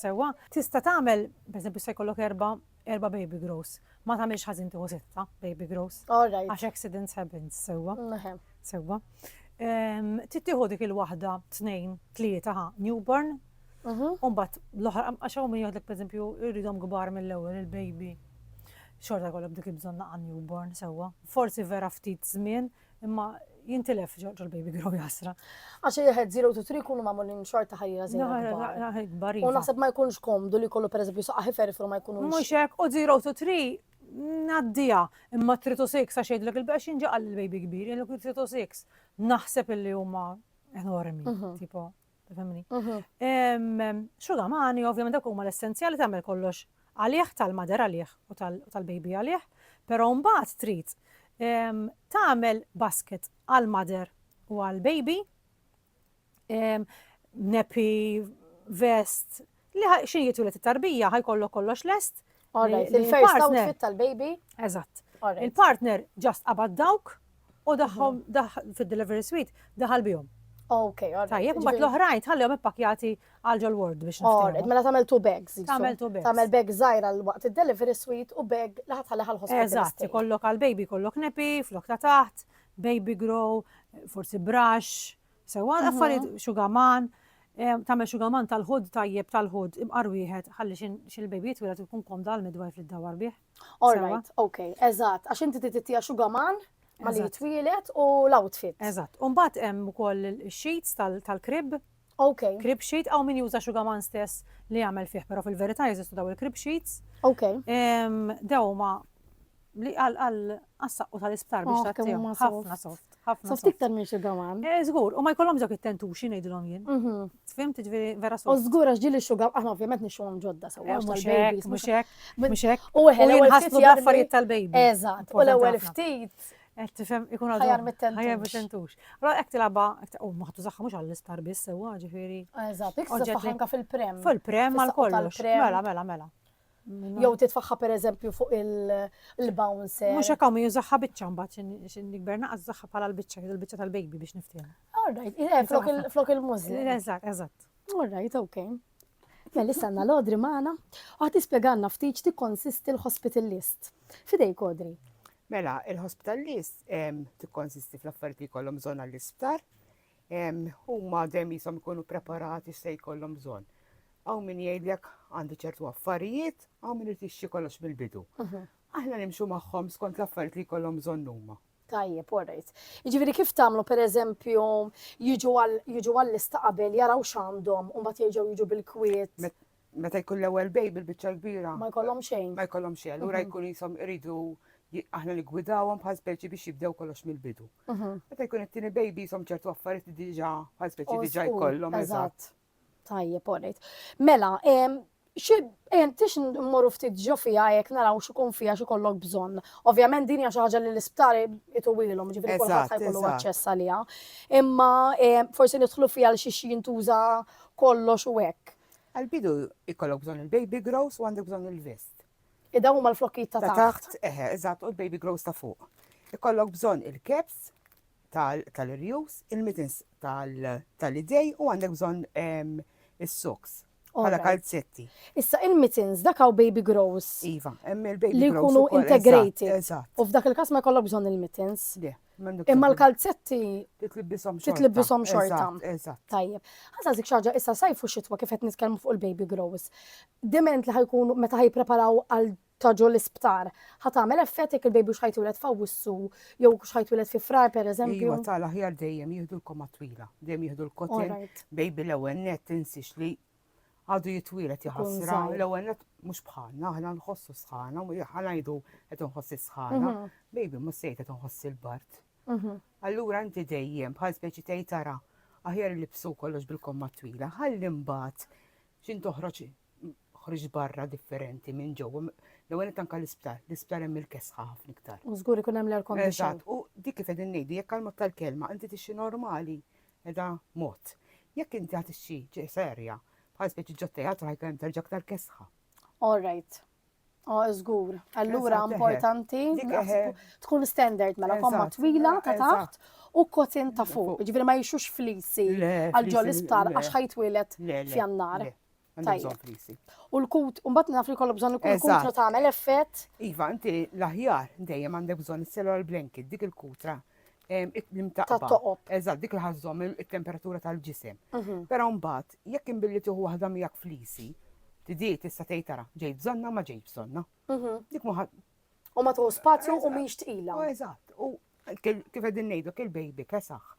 Speaker 1: Sewwa? Tista' tagħmel, pereżempju se jkollok erba' erba' baby grows. Ma tagħmilx ħażin tieħu sitta baby grows. All right. Għax accidents
Speaker 2: happens,
Speaker 1: sewwa? Ehem. Sewwa. Ehm, Trid tieħu dik il-waħda tnejn, tlieta ħa newborn. Mhm. U mbagħad l-oħra għax hawn min jgħidlek pereżempju jridhom kbar mill-ewwel il-baby. Xorta jkollok dik il-bżonn naqa' newborn sewwa. Forsi vera ftit żmien Imma jintilef ġol baby grow jasra. Għax jħed 0
Speaker 2: to 3 kunu mamulin xorta ħajja zero. U naħseb ma jkunx komdu li kollu per eżempju saqqa ħifer ma jkunux. Mux hekk u 0 to
Speaker 1: 3 naddija imma 3 to 6 għax jgħidlek il-bex jinġaqal il-baby kbir, jgħidlek 3 to 6 naħseb illi huma enormi, mhm. tipo. Femni. Xuga mani, ovvjament dak huma l-essenzjali tagħmel kollox għalih tal-mader għalih u tal-baby għalih, però mbagħad trid tagħmel basket għal-mader u għal-baby, nepi, vest, Li ħa xi jitwieled it-tarbija ħa jkollok kollox lest. All right, il-first
Speaker 2: outfit tal-baby. Eżatt.
Speaker 1: Il-partner ġast qabad dawk u daħħom mhm. fid-delivery suite daħal bihom. Ok, alright. Tajjeb,
Speaker 2: mbagħad jiġifieri- l-oħrajn
Speaker 1: tħallihom ippakjati għal ġol ward biex Alright, mela tagħmel two
Speaker 2: bags. Tagħmel two bags. Tagħmel bag
Speaker 1: żgħir għal
Speaker 2: waqt id-delivery suite u bag li ħatħalli ħal ħospitali. Eżatt, ikollok għal baby
Speaker 1: kollok nepi, flok ta' taħt, baby grow, forsi brush, Sewwa l-affarijiet xugaman, tagħmel xugaman tal-ħud tajjeb tal-ħud imqar wieħed ħalli xi xi l-baby jitwieled u jkun komda għall-midwife li ddawwar bih. All right, okej,
Speaker 2: eżatt, għax inti trid tittiha xugaman malli jitwieled u l-outfit. Eżatt, u mbagħad hemm
Speaker 1: ukoll ix-sheets tal-crib. Okej. Crib
Speaker 2: sheet, hawn min
Speaker 1: juża xugaman stess li jagħmel fih, però fil-verità jeżistu dawn il-crib sheets. Okej.
Speaker 2: Dawn
Speaker 1: huma Li għal għal għassaqqu tal-isptar biex ta' tiegħu. Ħafna soft. Ħafna soft. Tiktar minn xi
Speaker 2: gaman. Eh, żgur, u ma jkollhom ġok
Speaker 1: it-tentuxi ngħidilhom jien. Mhm. Tfim tiġri vera soft. U żgur għax ġili xugaw
Speaker 2: aħna ovvjament nixuhom ġodda sewa. Eh, mhux hekk, mhux
Speaker 1: hekk, mhux hekk. U ħellu ħaslu
Speaker 2: affarijiet
Speaker 1: tal-baby. Eżatt, u l-ewwel
Speaker 2: ftit. Eh, tifhem ikun
Speaker 1: għadu. Ħajar mit-tentux. Ħajar
Speaker 2: mit-tentux.
Speaker 1: Ra hekk tilaba, u maħtu zaħħa mhux għall-isptar biss sewa ġifieri. Eżatt,
Speaker 2: iktar fil-prem. Fil-prem għal kollox.
Speaker 1: Mela, mela, mela. Jew
Speaker 2: titfaħħa per eżempju fuq il-bouncer. Mux hekk hawn jużaħħa
Speaker 1: biċċa mbagħad xi nikber naqas zaħħa bħala l-biċċa, il-biċċa tal-baby biex niftehim. Alright, eh,
Speaker 2: flok il-mużli. Eżatt, eżatt.
Speaker 1: Alright, ok.
Speaker 2: Mela issa għandna l-odri magħna u ħadd tispjegalna ftit tikkonsisti l-hospital list. Fidejk odri. Mela, il-hospital
Speaker 3: list tikkonsisti fl-affarijiet li jkollhom bżonn għall-isptar, huma dejjem qishom ikunu preparati x'se jkollhom bżonn. Hawn min jgħidlek għandi ċertu affarijiet, hawn min irid jixtri kollox mill-bidu. Aħna nimxu magħhom skont l-affarijiet li jkollhom bżonn huma. Tajjeb, all right.
Speaker 2: Jiġifieri kif tagħmlu pereżempju jiġu għall-lista qabel jaraw x'għandhom u mbagħad jerġgħu jiġu bil-kwiet? meta jkun
Speaker 3: l-ewwel bej bil-biċċa l-kbira. Ma jkollhom xejn. Ma jkollhom
Speaker 2: xejn, allura mhm. jkun
Speaker 3: jisom iridu aħna li gwidawhom bħal speċi biex jibdew kollox mill-bidu. Mhm. Meta jkun it-tieni baby jisom ċertu affarijiet li diġà bħal speċi diġà jkollhom. Eżatt.
Speaker 2: Tajjeb, orrejt. Mela, Tix mmorru ftit ġo fija jek naraw xikun fija xi kollok bżonn. Ovvjament din hija xi ħaġa li l-isptari jitwililhom, ġifieri kulħadd se jkollu aċċess għaliha. Imma forsi nidħlu fija l xi jintuża kollox u hekk. Għall-bidu
Speaker 3: jkollok bżonn il-baby grows u għandek bżonn il-vest. Li dawn huma
Speaker 2: l-flokkijiet ta' taħt. Ta' taħt, eħe, eżatt, u l-baby
Speaker 3: grows ta' fuq. Ikollok bżonn il-caps tal-irjus, il-mittens tal-idej u għandek bżonn ehm, is-socks.
Speaker 2: Għala kalzetti.
Speaker 3: Issa il-mittens
Speaker 2: dak hawn baby grows. Iva, hemm il-baby
Speaker 3: grows. Li jkunu integrated. Eżatt.
Speaker 2: U f'dak il-każ
Speaker 3: ma jkollok
Speaker 2: bżonn il-mittens. Le. Imma
Speaker 3: l-kalzetti titlibbishom xorta.
Speaker 2: Tajjeb.
Speaker 3: Ħasa zik
Speaker 2: xaġa issa sajf u xitwa kif qed nitkellmu fuq il-baby grows. Diment li ħajkunu meta ħajpreparaw għal taġu l-isptar. Ħat għamel effett jekk il-baby xħajtwilet fawissu, jew xħajtwilet fi frar per eżempju. Iva tal-aħjar dejjem
Speaker 3: jihdu l-koma twila, dejjem jihdu l-kotin, baby l-ewwel
Speaker 2: net
Speaker 3: tinsix li għadu jitwilet jħassra, l-ewwel net
Speaker 2: mhux bħalna,
Speaker 3: aħna nħossu sħana, u ħanajdu qed nħossi sħana, mhm. baby mhux sejt qed nħossi l-bart. Mhm. Allura inti dejjem bħal speċi tgħid tara aħjar li bsu kollox bil-komma twila, ħalli mbagħad x'in toħroġ ħriġ barra differenti minn ġewwa. L-ewwel qed anke l-isptar, l-isptar hemm il-kesħa ħafna iktar. U żgur ikun hemm l-air condition.
Speaker 2: Eżatt, u dik kif qegħdin
Speaker 3: ngħidu jekk għal tal-kelma inti tixi normali Qiegħda mod. Jekk inti ħadt xi ġieħ serja, bħal speċi ġo teatru ħajkun hemm terġa' aktar kesħa. All right.
Speaker 2: Oh, żgur. Allura Eżatt, eħe. importanti
Speaker 3: Dik naħsbu-
Speaker 2: eħe.
Speaker 3: tkun
Speaker 2: standard mela komma Eżatt, twila ta' eżatt. taħt u
Speaker 3: kotin ta'
Speaker 2: fuq. Ġifieri ma jixux flisi Le, għal ġol flisi,
Speaker 3: isptar le. għax
Speaker 2: ħajtwieled Le,
Speaker 3: le,
Speaker 2: f'jannar. le. U
Speaker 3: l-kut, un bat
Speaker 2: naf li kollok bżon ikun kutra ta' għamel effett. Iva, inti
Speaker 3: l-aħjar dejjem għandek bżon il-cellular blanket, dik il-kutra l-imtaqba. toqob. Eżat,
Speaker 2: dik l-ħazzom
Speaker 3: il-temperatura tal-ġisem. Mhm. Pero mbat, jekk imbilli tuħu wahda miegħek flisi, tidi tista' tgħid tara, ġej bżonna ma ġej bżonna. Mhm. Dik muħad. U ma tuħu
Speaker 2: spazju u miex tqila. Eżat, u
Speaker 3: kif qegħdin ngħidu kil baby kesaħ.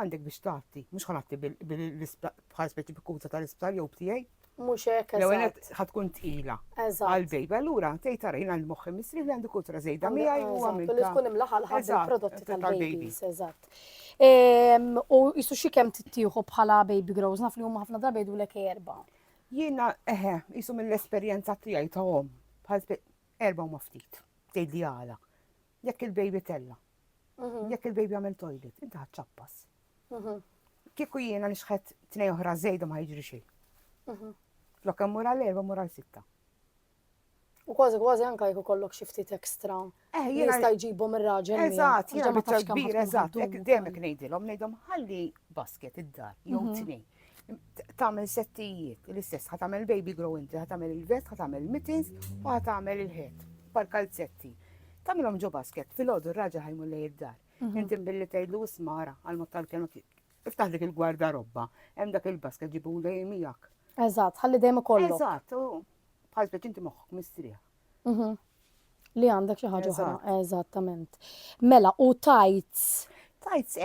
Speaker 3: Għandek biex tgħatti, mhux ħa ngħatti bħala speċi bikuta tal-isptar jew b'tiegħi. Mhux hekk eżatt. L-ewwel
Speaker 2: qed ħa tkun
Speaker 3: tqila. Eżatt. Għall-bejba
Speaker 2: allura
Speaker 3: tgħid tara jien għand moħħi misri li għandi kutra żejda miegħi u għamilta. Eżatt, li tkun imlaħa
Speaker 2: l-ħadd il-prodotti tal-babies, eżatt. U jisu xi kemm tittieħu bħala baby grows naf li huma ħafna drabi jgħidulek erba'. Jiena
Speaker 3: eħe, jisu mill-esperjenza tiegħi ta' hom, bħal erba' huma ftit, tgħidli għala. Jekk il-baby tella', jekk il-baby għamel toilet, inti ħadd ċappas. Kieku jiena nixħet tnej oħra żejda ma jiġri xejn. Mhm. Flok hemm mura l-erba mura l-sitta.
Speaker 2: U kważi kważi anka jkun kollok xi ftit ekstra. Eh, jiena jista'
Speaker 3: jġibhom ir-raġel.
Speaker 2: Eżatt, jiena ma tax
Speaker 3: kbir,
Speaker 2: eżatt, hekk dejjem
Speaker 3: ngħidilhom, ngħidhom ħalli basket id-dar jew mhm. tnej. tagħmel settijiet l-istess, ħa tagħmel baby grow inti, ħa tagħmel il-vest, ħa tagħmel mittens u ħa tagħmel il-ħed pal kalzetti. Tagħmilhom ġo basket fil-għodu raġa ħajmu lej id-dar. Mhm. Inti billi tgħidlu ismara għal mod tal-kelma iftaħ dik il-gwarda robba, hemm dak il-basket ġibu lej miegħek. Eżatt, ħalli dejjem
Speaker 2: kollu. Eżatt,
Speaker 3: bħal speċi inti moħħok mistrieħ. Mhm.
Speaker 2: Li għandek xi ħaġa oħra, eżattament. Mela, u tajts. Tajts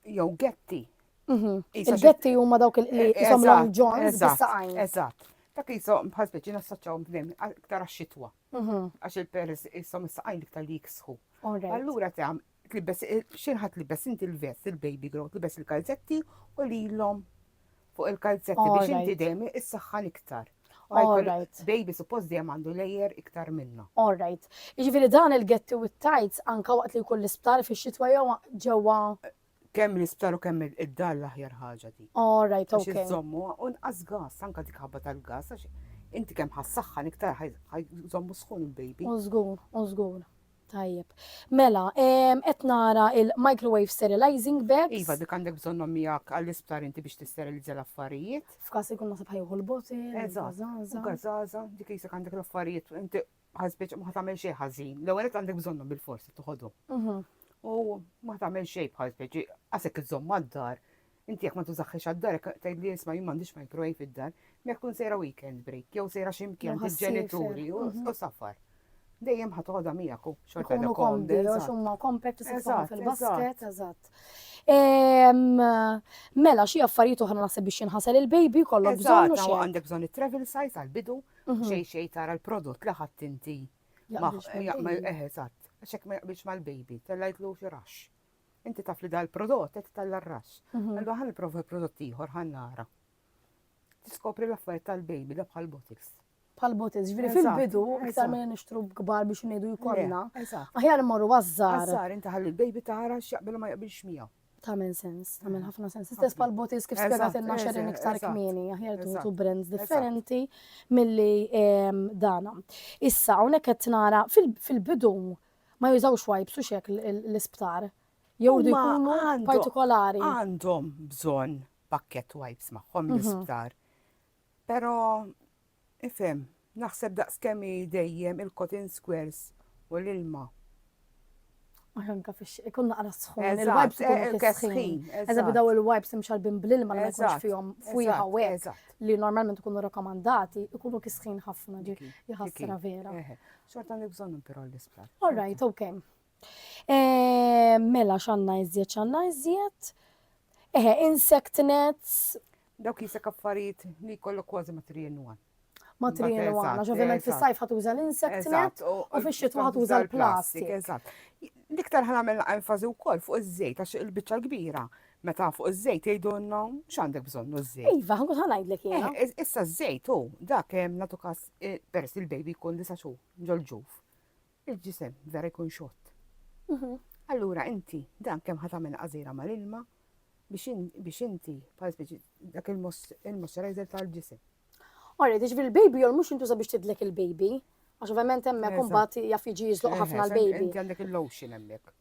Speaker 3: jew getti Mhm. Il-betti huma dawk
Speaker 2: il-qliq, eh, isom long johns, bis-saqajn. Eżatt. Dak
Speaker 3: jisom bħal speċi nassoċċaw bnem, iktar għax-xitwa. Mhm. Għax il-peres jisom is-saqajn iktar li jiksħu. Allura ta' tlibbes, eh, xinħat tlibbes inti l-vest, il-baby grow, tlibbes il-kalzetti u li l-lom fuq il-kalzetti biex inti dejjem is-saħħan iktar. Alright.
Speaker 2: Baby suppost dejjem
Speaker 3: għandu lejer iktar minna. Alright.
Speaker 2: Jiġifieri dan il-getti u t-tajts anka waqt li jkun l-isptar fix-xitwa jew ġewwa Kemm l-isptar
Speaker 3: u kemm id-dar l-aħjar ħaġa dik. Oh, right, Għax okay. iżommu,
Speaker 2: u
Speaker 3: nqas
Speaker 2: gas,
Speaker 3: anka dik ħabba tal-gas, għax inti kemm ħassaħħan iktar ħaj- ħajżommu sħun il-baby. U żgur, u
Speaker 2: żgur. Tajjeb. Mela, em, qed nara il-microwave sterilizing bags. Iva, dik għandek bżonnhom
Speaker 3: miegħek għall-isptar inti biex tisterilizza l-affarijiet. F'każ ikun nasib
Speaker 2: ħajħu l-botil. Eżatt,
Speaker 3: Zaza. u gazaza,
Speaker 2: dik jisek
Speaker 3: għandek l-affarijiet, inti ħasbitx ma tagħmel xejn ħażin. L-ewwel qed għandek bżonnhom bil-forsi toħodhom. Mhm. U ma tagħmel xejn bħal speċi għasek iżomm mad-dar. Inti jekk ma tużaħħiex għad-dar tgħid li jisma' jien m'għandix microwave fid-dar, jekk tkun sejra weekend break jew sejra x'imkien bil-ġenituri
Speaker 2: u mhm.
Speaker 3: safar. Dejjem ħadd toħodha miegħek u xorta jkunu komdi għax
Speaker 2: huma kompet tisibhom fil-basket, eżatt. Ehm, mela xi affarijiet oħra naħseb biex jinħasel il-baby kollok bżonn. Eżatt, għandek bżonn it-travel size
Speaker 3: għall-bidu Xej xej tara l-prodott li ħadd inti.
Speaker 2: Eh, eżatt, għaxek ma
Speaker 3: jaqbilx mal-baby, tellajtlu xi rax. Inti taf li dal-prodott qed tella r-rax. Mhm. Allura ħan nipprova prodott ieħor ħan nara. Tiskopri l-affarijiet tal-baby da bħal bottles. Bħal bottles, ġifieri
Speaker 2: fil-bidu iktar
Speaker 3: minn
Speaker 2: nixtru kbar
Speaker 3: biex
Speaker 2: ngħidu jkollna. Aħjar immorru
Speaker 3: għażżar.
Speaker 2: Għażżar inti ħalli l-baby
Speaker 3: tara x'jaqbel ma jaqbilx miegħu. Tamen sens,
Speaker 2: tamen mm. ħafna sens. Istess pal botis kif spiegat il xerin iktar
Speaker 3: kmini,
Speaker 2: aħjar tuħtu brands
Speaker 3: differenti
Speaker 2: mill-li ehm, dana. Issa, unek qed nara fil-bidu ma jużawx wipes u xek l-isptar. Jew li jkunu partikolari.
Speaker 3: Għandhom bżon pakket wipes maħħom mhm. l-isptar. Pero, ifhem, naħseb daqs kemm hi dejjem il-cotton squares u l-ilma.
Speaker 2: Aħjar anka fix ikun naqra sħun, il-wipes ikunu
Speaker 3: fis-sħin.
Speaker 2: Eżatt
Speaker 3: bidaw
Speaker 2: il-wipes imxarbin bl-ilma li ma jkunx fihom fwiħa u hekk li normalment
Speaker 3: ikunu
Speaker 2: rakkomandati, ikunu kisħin ħafna ġi jħassra vera.
Speaker 3: Xorta
Speaker 2: nibżonnu
Speaker 3: però l-isplat. All right, okay.
Speaker 2: Eh, mela xanna iżjed, xanna iżjed. Eħe, insect nets. Dawk jisek
Speaker 3: affarijiet li kollok kważi ma trienu għan. Ma trienu
Speaker 2: għan, għax ovvijament fis-sajf ħat
Speaker 3: uża
Speaker 2: l-insect net u fix-xitwa ħat uża l-plastik. Eżatt.
Speaker 3: L-iktar ħan għamil enfazi u koll fuq iż-żejt, għax il-bicċa l-kbira meta fuq iż-żejt jgħidulna x'għandek bżonn iż-żejt. Iva, ħankun ħanajdlek eh,
Speaker 2: jiena. Issa ż-żejt hu
Speaker 3: dak hemm nagħtu każ eh, peress il-baby jkun disa' xhur ġol-ġuf. Il-ġisem vera jkun xott. Allura inti dan kemm ħa tagħmel għażiera mal-ilma biex biex inti bħala speċi dak il-moisturizer tal-ġisem. Alright, jiġifieri
Speaker 2: l-baby oil mhux jintuża biex tidlek il-baby, għax ovvjament hemmhekk imbagħad jaf jiġi jiżloq ħafna l-baby. Inti għandek il-lotion
Speaker 3: hemmhekk.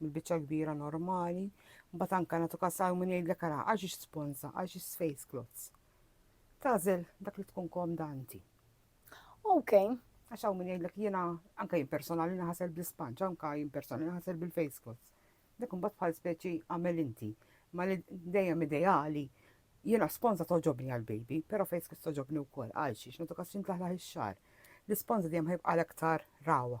Speaker 3: mill-biċċa l-kbira normali, mbagħad anke nagħtu każ hawn min jgħidlek ara għax ix sponsa, għax ix face cloths. Tażel dak li tkun komda inti. Ok.
Speaker 2: Għax hawn min
Speaker 3: jgħidlek jiena anke jien personali naħasel bl-ispanġ, anke jien personali naħasel bil-face cloths. Dak imbagħad bħal speċi għamel inti. Ma li dejjem ideali jiena sponsa toġobni għal-baby, però face cloths toġobni wkoll għal xiex nagħtu każ xintlaħlaħ ix-xar. L-isponsa dejjem ħajbqa' l-aktar rawa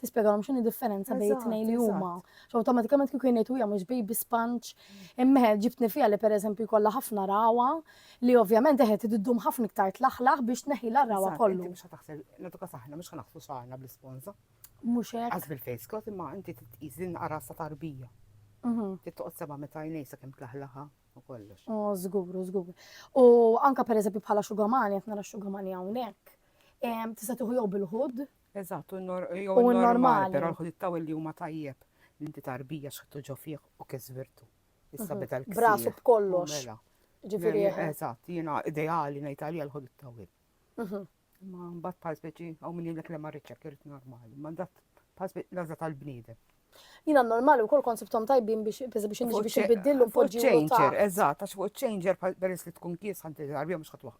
Speaker 2: tispjegalhom x'inhi differenza bejn it-tnejn li huma. Awtomatikament kieku jgħidu hija mhux baby sponge, imma ġibtni fiha li pereżempju jkollha ħafna rawa li ovvjament eħed iddum ħafna iktar tlaħlaħ biex tneħħilha r-rawa kollu. Mhux ħa taħsel, naduka
Speaker 3: saħna mhux ħa naħslu xagħarna bl-isponża. Mhux hekk. Għaż
Speaker 2: bil-face cloth imma
Speaker 3: inti titqis din qarasa tarbija. Mhm. Tittoqgħod seba' meta jnej sakemm tlaħlaħa u kollox. Oh, żgur, żgur.
Speaker 2: U anka pereżempju bħala xugamani, qed nara xugamani hawnhekk. Tista' tieħu jew bil-ħud, Eżatt, u n-normal,
Speaker 3: però l-ħudiet ta'
Speaker 2: Willie huma
Speaker 3: tajjeb. Inti tarbija x'ħadtu ġo fih u kif żvirtu. Issa beda l-ksieħ. B'rasu b'kollox.
Speaker 2: Mela. Ġifieri. Eżatt, jiena
Speaker 3: ideali ngħid għalija l-ħudiet ta' Will. Ma mbagħad bħal speċi hawn min jgħidlek le ma rridx hekk irid normali. Ma dat bħal speċi l-għażla tal-bniedem. Jina normali
Speaker 2: u kol kont sibtom tajbin biex biex biex inġi biex nbiddillu poġġi u changer, eżatt, għax
Speaker 3: fuq changer peress li tkun kies ħanti għarbija mux ħatwa.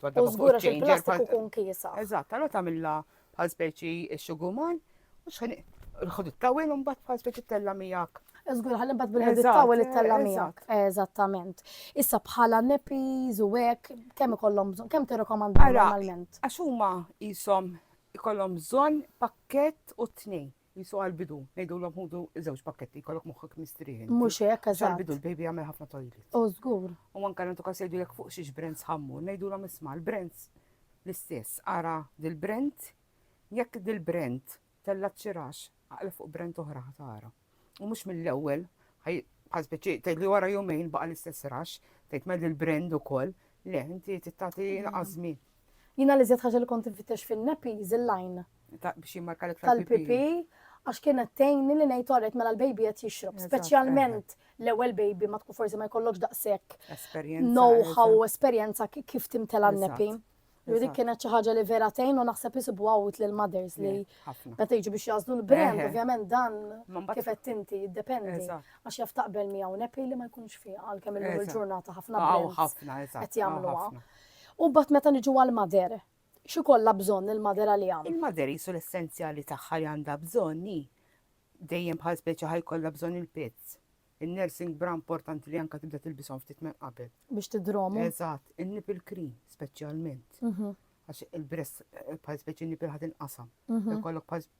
Speaker 3: U zgura
Speaker 2: xil plastiku kun kiesa. Eżatt, għallu tamilla
Speaker 3: bħal speċi xuguman u xħan il-ħod it-tawil un bat bħal speċi tella miegħek. Zgur ħallim bat bil-ħed
Speaker 2: it-tawil it-tella miegħek. Eżattament. Issa bħala nepiz u hekk kemm ikollhom bżonn, kemm tirrekomanda normalment? Għax huma
Speaker 3: jisom ikollhom bżonn pakket u tnejn. Qisu għall-bidu, ngħidulhom ħudu żewġ pakketti jkollok moħħok mistrieħ. inti. Mhux hekk, eżatt. Għall-bidu
Speaker 2: l-baby jagħmel ħafna
Speaker 3: toilet. U żgur. U
Speaker 2: anke nagħtu każ jgħidu
Speaker 3: jekk fuq xiex brands ħammu, ngħidulhom isma' l-brands l-istess. Ara dil-brand, jekk dil-brand tellat xi rax, aqla fuq brand oħra ħa tara. U mhux mill-ewwel, ħaj bħal speċi tgħid li wara jumejn baqa' l-istess rax, tgħid mel il-brand ukoll, le, inti tagħti naqas żmien. Jiena li żjed
Speaker 2: ħaġa li kont infittex fin-nappies il-line. biex jimmarka
Speaker 3: l-iktar. Tal-pipi,
Speaker 2: għax kienet tejni li ngħid orret mela l-baby qed jixrob, speċjalment l-ewwel baby ma tkun forsi ma jkollokx daqshekk know-how u esperjenza kif timtela n-nepi. U dik kienet xi ħaġa li vera tgħin u naħseb isibu għawt lil mothers li meta jiġu biex jażlu l-brand, ovvjament dan kif qed inti jiddependi għax jaf taqbel miegħu nepi li ma jkunx fiha għalkemm illum il-ġurnata ħafna brands qed jagħmluha. U bat meta niġu għal-mader, X'ikollha bżonn il-mother għaliha? Il-mother qisu l-essenzjali
Speaker 3: tagħha li għandha bżonn hi. Dejjem bħal speċi ħa jkollha bżonn il-pads. In-nursing bra importanti li anke tibda tilbishom ftit minn qabel. Biex tidromu.
Speaker 2: Eżatt, in-nipple
Speaker 3: cream speċjalment. Mhm. Għax il-breast eh, bħal speċi nipple ħad inqasam. Mhm. Ikollok bħal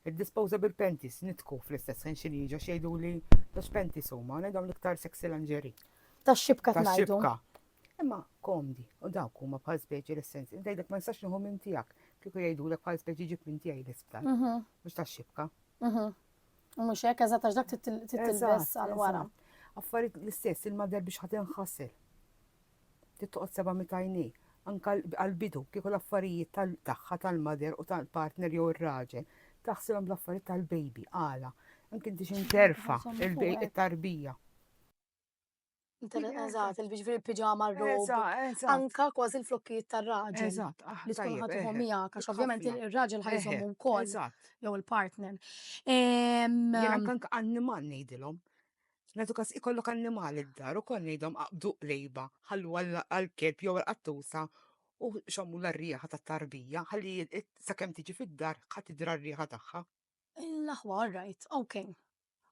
Speaker 3: Id-disposable panties nidħku fl-istess ħin xi ngħid għax jgħiduli ta' x'panties huma, ngħidhom l-iktar sexy lingerie. Tax-xibka ngħidu.
Speaker 2: Tax-xibka. Imma
Speaker 3: komdi u dawk huma bħal speċi l-essens. Inti jgħidlek ma nistax nieħu minn tiegħek kieku jgħidulek bħal speċi ġib minn tiegħi l-isptar. Mhm. Mhux tax-xibka. Mhm.
Speaker 2: U mhux hekk eżatt għax dak titilbes għal wara. Affarijiet
Speaker 3: l-istess il-madar biex ħadd inħassel. Trid toqgħod seba' mit għajnejh. Anke għall-bidu, kieku l-affarijiet tagħha, tal-mother u tal-partner jew ir-raġel, taħsibhom bl-affarijiet tal-baby, għala? Anke inti xi nterfa' il-tarbija.
Speaker 2: Eżatt, il-biġ fil-piġama r-rob. Anke kważi l-flokkijiet tar-raġel. Eżatt, li tkun
Speaker 3: ħaddhom
Speaker 2: miegħek għax ovvjament ir-raġel ħajżhom ukoll. Eżatt. Jew il-partner.
Speaker 3: Anke annimal ngħidilhom. Nagħtu każ ikollok annimali d-dar ukoll ngħidhom aqbdu qrejba, ħallu għall-kelb jew għall-qattusa u xammulha r-riħa tat-tarbija ħalli sakemm tiġi fid-dar ħa tidra r-riħa tagħha. L-aħwa, all
Speaker 2: right, ok.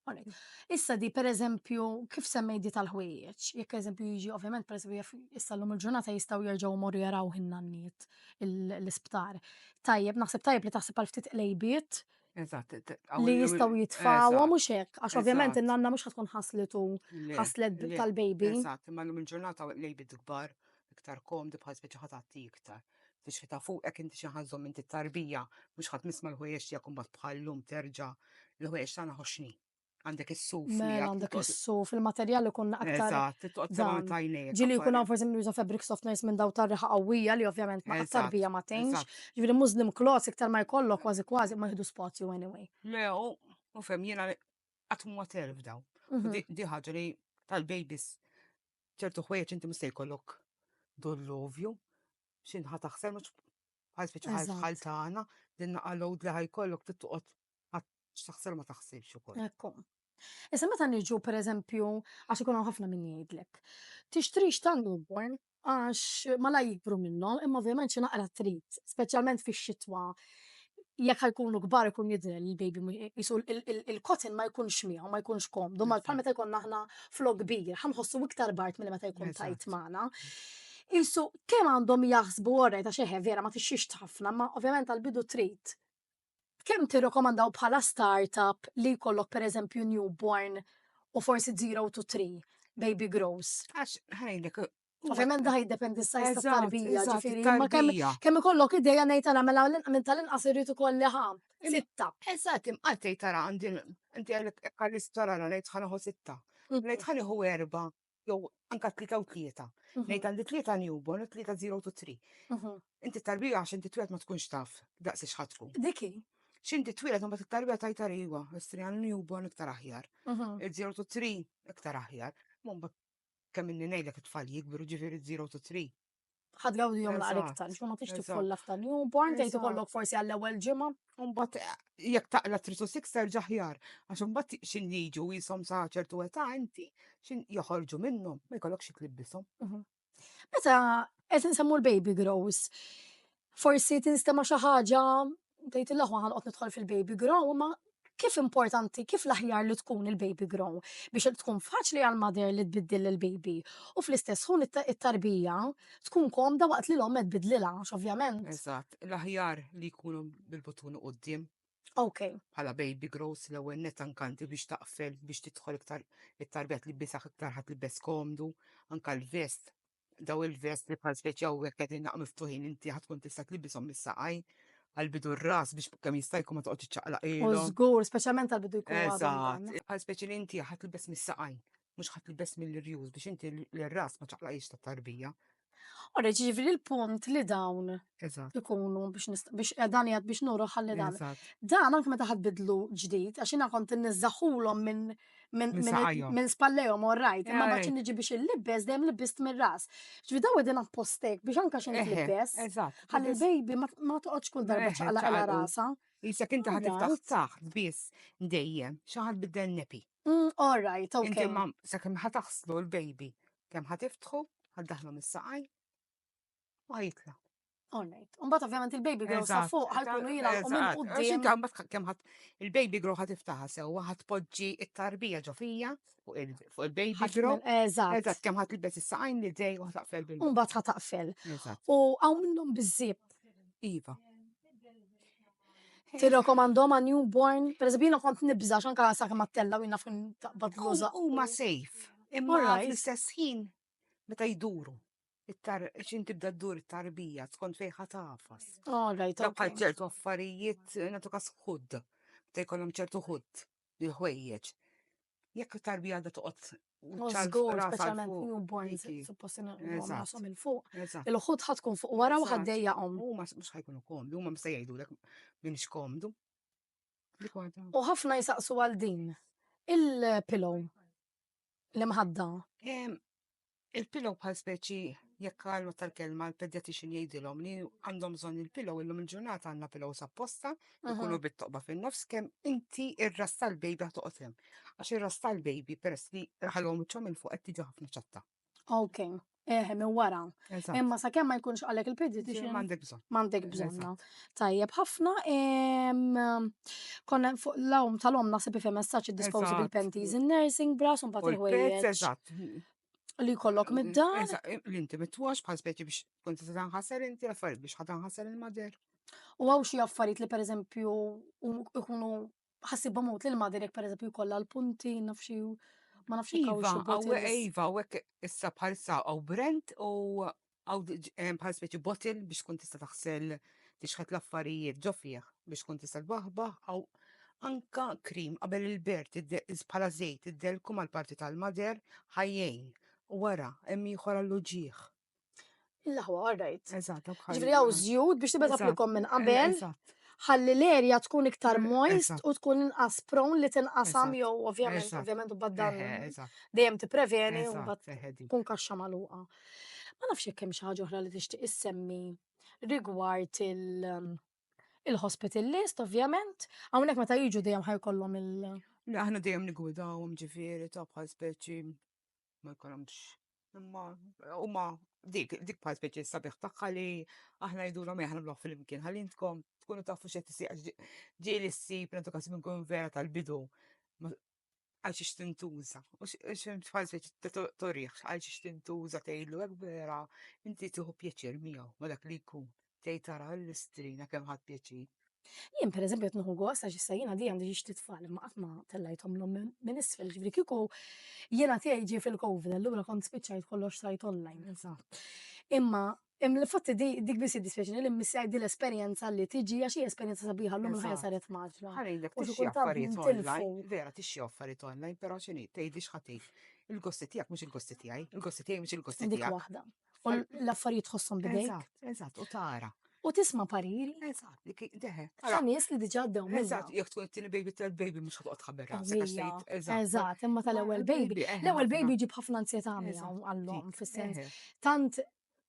Speaker 2: All right. Issa di pereżempju kif semmejt di tal-ħwejjeġ, jekk pereżempju jiġi ovvjament pereżempju jaf issa llum il-ġurnata jistgħu jerġgħu jmorru jarawh in-nanniet l-isptar. Tajjeb, naħseb tajjeb li taħseb għal ftit qlejbiet Eżatt,
Speaker 3: li jistaw
Speaker 2: jitfawa mux hekk, għax ovvjament il-nanna mux ħatkun ħaslitu ħaslet tal-baby. Eżatt, imma l-lum il-ġurnata
Speaker 3: l-baby dikbar, iktar komdi bħal speċi ħatatti iktar. Fix ta' fuq ek inti xaħazom inti tarbija, mux ħat misma l-ħujex tijak kumbat bħal-lum terġa l-ħujex tana ħoxni. għandek is-suf. Mela għandek is-suf,
Speaker 2: il-materjal ikun aktar. Eżatt,
Speaker 3: Ġili jkun għan forsi nuża
Speaker 2: fabric softeners minn daw tarriħa qawwija li ovvjament ma aktar bija ma tgħinx. Ġifieri Muslim cloths iktar ma jkollok kważi kważi ma jieħdu spazju anyway. Le,
Speaker 3: u fem jiena qatt ma terf daw. Mhm. Di ħaġa li tal-babies ċertu ħwejjeġ inti mista jkollok dullovju x'inħa taħsel mhux bħal speċi bħal tagħna din naqalgħu li ħajkollok tittoqgħod x'taħsel ma taħsibx ukoll. Ekku.
Speaker 2: Issa meta niġu pereżempju għax ikun hawn ħafna min jgħidlek. Tixtrix ta' newborn għax ma la jikbru minnhom, imma ovvjament xi naqra trid, speċjalment fix-xitwa jekk ħajkunu kbar ikun jidher li l-baby jisu il-kotin ma jkunx miegħu, ma jkunx komdu, ma bħal meta jkun aħna flok kbir, ħanħossu iktar bart milli meta jkun tajt magħna. Isu kemm għandhom jaħsbu orrejt ta' xeħe vera ma tixxix ħafna, ma ovvjament għal-bidu trid Kemm tirrekomandaw bħala startup li jkollok pereżempju newborn u forsi zero to three baby grows? Għax ħajlek
Speaker 3: Ovvjament da
Speaker 2: jiddependi s-sajz ta' tarbija, ġifiri, ma kemm ikollok ideja ngħid għala mela minn tal-inqas irrid ukoll ħam. Sitta. Eżatt, imqatt tgħid
Speaker 3: tara għandi inti għalek għal-istora ngħid ħanaħu sitta. Ngħid ħaniħu erba' jew anka tlieta u tlieta. Ngħid għandi tlieta newborn u tlieta zero to three. Inti tarbija għax inti twielet ma tkunx taf daqs xħatku. Diki. X'inti
Speaker 2: twielet
Speaker 3: mbagħad it-tarbija tajta iva, istri għal newborn iktar aħjar. Il-zero to three iktar aħjar. Mbagħad kemm inni ngħidlek it-tfal jikbru ġifieri zero to three. ħad għawdi
Speaker 2: jom naqra iktar, xma ma tix titfolla f'tan jum, born tgħid ikollok forsi għall-ewwel ġimgħa. Umbat eh,
Speaker 3: jekk taqla trisu sikser ġaħjar, għax umbat xin jiġu jisom sa ċertu età inti, xin joħorġu minnhom, ma jkollok xi tlibbisom. Mhm. Meta
Speaker 2: qed nsemmu l-baby grows, Forsi tinstema' xi ħaġa tgħidilha ħwa ħanqgħod nidħol fil-baby grow, imma kif importanti, kif l-aħjar li tkun il-baby grow biex tkun faċli għall-mother li tbiddil lill-baby u fl-istess ħun it-tarbija tkun komda waqt li l-omm qed tbiddlilha għax ovvjament. Eżatt, l-aħjar
Speaker 3: li jkunu bil-butun quddiem. Ok.
Speaker 2: Bħala baby grows
Speaker 3: l-ewwel net ankanti biex taqfel biex tidħol iktar it-tarbija tlibisaħ iktar ħadd libes komdu, anka l-vest daw il-vest li bħal speċi għawek għedin naqnu ftuħin inti ħatkun tista' tlibisom mis-saqaj għal-bidu r-ras biex kemm jista' jkun ma toqgħodx iċċaqlaq U ilhom. żgur, speċjalment
Speaker 2: għal bidu jkun għadhom Eżatt, dan. bħal speċi
Speaker 3: li inti ħadd libes mis-saqaj, mhux ħadd libes mill-irjus biex inti l-ras ma ċaqlaqiex tat-tarbija. Ora,
Speaker 2: ġifieri l-punt li dawn Eżatt. ikunu biex nist- biex eh, dan jgħad biex nuru ħalli dan. Eżatt. Dan anke meta ħadd bidlu ġdid, għax jiena kont inniżżaħulhom minn minn Minn minn saqajhom. minn spallejhom all right, imma ma Ej. kien niġi biex il-libbes dejjem libbist mir-ras. Ġifi daw qegħdin appostek biex anke xi Eħe, libbes. Eżatt. Ħalli l-baby ma- ma toqgħodx kull darba Eħe, ċaqlaq ċaqalqu. rasha. Jisek inti ħad tiftaħ
Speaker 3: Alright. taħt biss dejjem. Xaħat biddel nepi. Mm, All right,
Speaker 2: Inti okay. ma sakemm
Speaker 3: ħataħslu l-baby. Kemm ħatiftħu, ħaddaħlu mis-saqaj. U jitla. Alright.
Speaker 2: Umbat ovvjament il-baby girl sa Eżatt. fuq ħalkunu jina u minn
Speaker 3: Eżatt.
Speaker 2: Għax inti qudiem. għambat ħa- kemm
Speaker 3: ħadd il-baby grow ħad iftaħa sewwa ħad poġġi it-tarbija ġo fija fuq il- fuq il-baby ħadd grow. minn- Eżatt. Eżatt kemm ħadd
Speaker 2: ilbes
Speaker 3: is-saqajn li dej u ħtaqfel bil. Umbat ħa taqfel.
Speaker 2: Eżatt. U għaw
Speaker 3: minnhom
Speaker 2: bizzib. Iva. Tirrekomandhom għan newborn. Per eżempju, jiena kont nibża xanka sa' kemm għattella u jiena fin taqbad l-uża. Huma safe.
Speaker 3: Imma Alright. fl-istess ħin meta jduru. it-tar xin tibda ddur it-tarbija skont fejn ħa tafas. Oh, right, Dak bħal okay.
Speaker 2: ċertu
Speaker 3: affarijiet eh, nagħtu kas ħudd, ta' jkollhom ċertu ħudd il-ħwejjeġ. Jekk it-tarbija għadha toqgħod Oh, ċar żgur, ras
Speaker 2: għal speċjalment fuq. newborns, Kiki. suppost Eżatt. nagħmlu il
Speaker 3: fuq. Eżatt.
Speaker 2: Il-ħut ħad tkun
Speaker 3: fuq wara
Speaker 2: u Eżatt. ħaddejjaqhom. Huma
Speaker 3: s- mhux
Speaker 2: ħajkunu
Speaker 3: komdu, huma mista jgħidulek min x'komdu. Dik waħda. U ħafna jisaqsu għal
Speaker 2: din. Il-pillow. l-imħadda.
Speaker 3: Il-pillow bħal speċi jekk għalma tal-kelma l-pedjatixin jgħidilhom li għandhom bżonn il-pillow illum il-ġurnata għandna pillow sapposta jkunu bit-toqba fin-nofs kemm inti ir-ras tal-baby toqgħod hemm. Għax ir-ras tal-baby peress li ħalhom wiċċhom il fuq qed tiġi ħafna ċatta. Ok.
Speaker 2: Eħe, minn wara. Imma sa' kemm ma jkunx għalek il-pediatrician. Mandek bżon. Mandek
Speaker 3: bżon.
Speaker 2: Tajjeb, ħafna. Konna fuq l-għom tal-om nasib fi messaċ disposable panties in nursing bras un bat il-ħwejjeġ. Eżatt.
Speaker 3: Li kollok
Speaker 2: mid-dar. L-inti mit-twax
Speaker 3: bħal speċi biex kont se tanħasser inti għaffariet biex ħatanħasser il-mader. U għaw xie
Speaker 2: affarijiet li per eżempju ikunu ħassibhom mut lil mader jekk pereżempju jkollha l-punti naf xi ma nafx Iva, il-kawxu għaw bottles. Iva, u
Speaker 3: hekk issa bħalissa għaw brand u għaw eh, bħal speċi bottle biex tkun tista' taħsel tixħet l-affarijiet ġo fih biex tkun tista' tbaħbaħ għaw anka krim qabel il-bert id- iz- bħala żejt iddelku mal-parti tal-mader ħajjejn u wara hemm ieħor għall-uġieħ. Il-laħwa,
Speaker 2: all right. Eżatt, Ġifri għaw
Speaker 3: zjud
Speaker 2: biex tibet għaplikom minn qabel. Ħalli l-erja tkun iktar moist u tkun inqas prawn li tinqasam jew ovvjament, ovvjament
Speaker 3: u
Speaker 2: baddan dejjem
Speaker 3: tippreveni
Speaker 2: u tkun kaxxa magħluqa. Ma nafx jekk hemm xi ħaġa oħra li tixtieq issemmi rigward il- um, il-hospital list, ovvjament, hawnhekk meta jiġu dejjem ħajkollhom il- Aħna dejjem
Speaker 3: nigwidawhom ġifieri ta' bħal speċi ma jkollhomx imma huma dik dik bħal speċi sabiħ tagħha li aħna jidulhom eh, aħna nagħmluh fil-imkien ħalli intkom tkunu tafu x'qed isir ġieli ssib l-edukazzjoni nkun vera tal-bidu għal xiex tintuża, u xħal speċi torriħ, għal xiex tintuża tgħidlu hekk vera, inti tieħu pjaċir miegħu ma dak li jkun. Tgħid ara l-istrina kemm ħadt pjaċir. Jien per eżempju
Speaker 2: qed nieħu gost għax issa jiena di għandi xi ftit tfal imma qatt ma tellajthom l minn isfel, ġifieri kieku jiena tiegħi ġie fil-COVID allura kont spiċċajt kollox sajt online. Eżatt.
Speaker 3: Imma
Speaker 2: Fatti dik biss id-dispjaċini li missaj di l-esperjenza li tiġi għax hija esperjenza sabiħa l-lum ħajja saret maġla. Ħarejlek tixxi affarijiet
Speaker 3: online, vera
Speaker 2: tixxi
Speaker 3: affarijiet online, però xini tgħidli x'ħatif. Il-gosti tiegħek mhux il-gosti tiegħi, il-gosti tiegħi mhux il-gosti tiegħek. Dik waħda. U
Speaker 2: l-affarijiet tħossom bidejk. Eżatt, eżatt, u tara.
Speaker 3: U tisma pariri.
Speaker 2: Eżatt, li ki-
Speaker 3: deħe. Ta' nies li diġa
Speaker 2: għaddew minna. Eżatt, jek tkun it-tieni baby
Speaker 3: tal baby mhux ħadd tħabber rasek għax Ija, tgħid, eżatt. Eżatt,
Speaker 2: imma
Speaker 3: tal-ewwel
Speaker 2: Ewwel baby. baby, eħe, L-ewwel ħafna. baby jġib ħafna ansjetà miegħu Eżatt, għallhom dik, fis-sens. eħe. Tant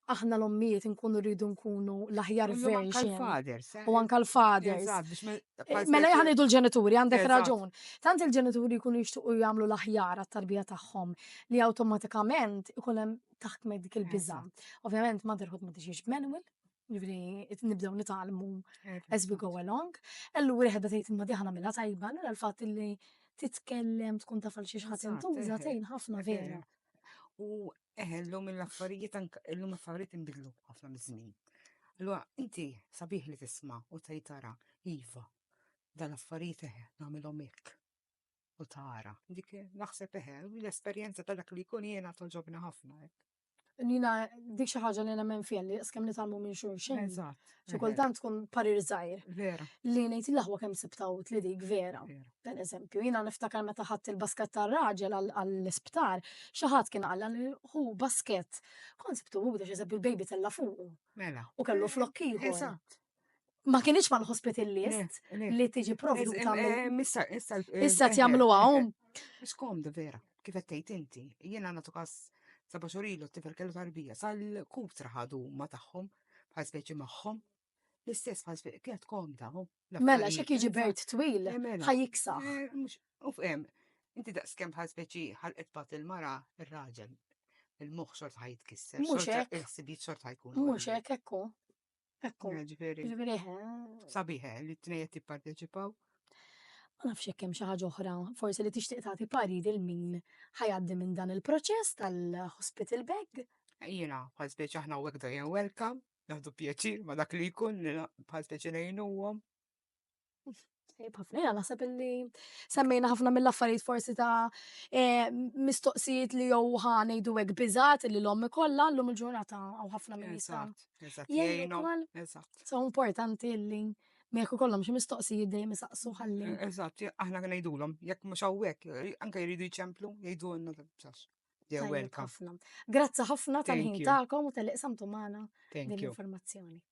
Speaker 2: aħna l-ommijiet nkunu rridu nkunu l-aħjar U jew anka version. l-fathers, eh? U anka l-fathers. Eżatt, biex me- Eh, bħal Mela specie- jħanidu l-ġenituri, għandek Eżatt. raġun. Tant il-ġenituri jkunu jixtuqu jagħmlu l-aħjar għat-tarbija tagħhom li awtomatikament ikun hemm taħt me dik il-biża. Ovvjament motherhood ma tiġix manual, ġifri nibdew nitalmu as we go along. Ellu wieħed tgħid imma diħana mela tajba, allura l-fatt li titkellem tkun taf għal xi ħadd intuża tgħin ħafna vera. U
Speaker 3: eħellu mill-affarijiet illum affarijiet inbidlu ħafna miż-żmien. Allura inti sabiħ li tisma' u tgħid tara iva dan affarijiet eħe nagħmilhom hekk. u tara. Dik naħseb eħe, l-esperjenza ta' dak li jkun jiena toġobna ħafna. Nina,
Speaker 2: dik xi ħaġa li nemmen fija li skemm nitalmu minn xulxin. Eżatt. Xi kultant
Speaker 3: tkun
Speaker 2: parir żgħir. Vera. Li ngħid
Speaker 3: il-aħwa kemm
Speaker 2: sibtaw li dik vera. Per eżempju, jiena niftakar meta ħadd il-basket tar-raġel għall-isptar, xi ħadd kien qalla li hu basket. Kont sibtu hu biex eżempju l-baby tella fuq. Mela. U kellu
Speaker 3: flokki.
Speaker 2: Eżatt.
Speaker 3: ma kienx
Speaker 2: mal hospital list li tiġi provduta.
Speaker 3: Issa tjamlu għom.
Speaker 2: Ix komdu
Speaker 3: vera, kif għettejt inti, jena natu kas saba xurilu t-tifel kellu tarbija, sal-kutra ħadu ma taħħom, bħal speċi maħħom, l-istess bħal speċi, kienet komda. Mela, xek jiġi bert
Speaker 2: twil, eh, mela. ħajiksa. Eh, u fem,
Speaker 3: inti daqskem bħal speċi ħalqet bat il-mara, il-raġel, il-moħ xort
Speaker 2: ħajt kisser,
Speaker 3: il-ħsibiet
Speaker 2: xort
Speaker 3: ħajkun.
Speaker 2: Mux hekk
Speaker 3: ekku.
Speaker 2: Ekku. Ġifieri.
Speaker 3: Ġifieri.
Speaker 2: Sabiħe
Speaker 3: li t-tnejja tipparteċipaw. Ma
Speaker 2: nafx jekk hemm xi ħaġa oħra, forsi li tixtieq tagħti pari lil min ħajaddi minn dan il-proċess tal-hospital bag. Jiena, bħal
Speaker 3: speċi aħna u għekda jen welcome, naħdu pjaċir ma dak li jkun li bħal speċi nejnuhom.
Speaker 2: Tajjeb ħafna, jena naħseb illi semmejna ħafna mill-affarijiet forsi ta' eh, mistoqsijiet li jew ħa ngħidu hekk biżgħat li l-omm ikollha llum il-ġurnata hawn ħafna minn jista' Eżatt, eżatt, jgħin jgħinu,
Speaker 3: ukoll.
Speaker 2: eżatt.
Speaker 3: So importanti
Speaker 2: illi ma jekk ikollhom xi mistoqsijiet dejjem isaqsu ħalli. Eżatt, aħna
Speaker 3: ngħidulhom, jekk mhux hawnhekk, anke jridu jċemplu, jgħidu għandna tal-bsax. They're Tajjeb welcome. ħafna. Grazzi
Speaker 2: ħafna Thank tal-ħin you. tagħkom u
Speaker 3: tal-iqsamtu
Speaker 2: magħna
Speaker 3: Thank
Speaker 2: din you. l-informazzjoni.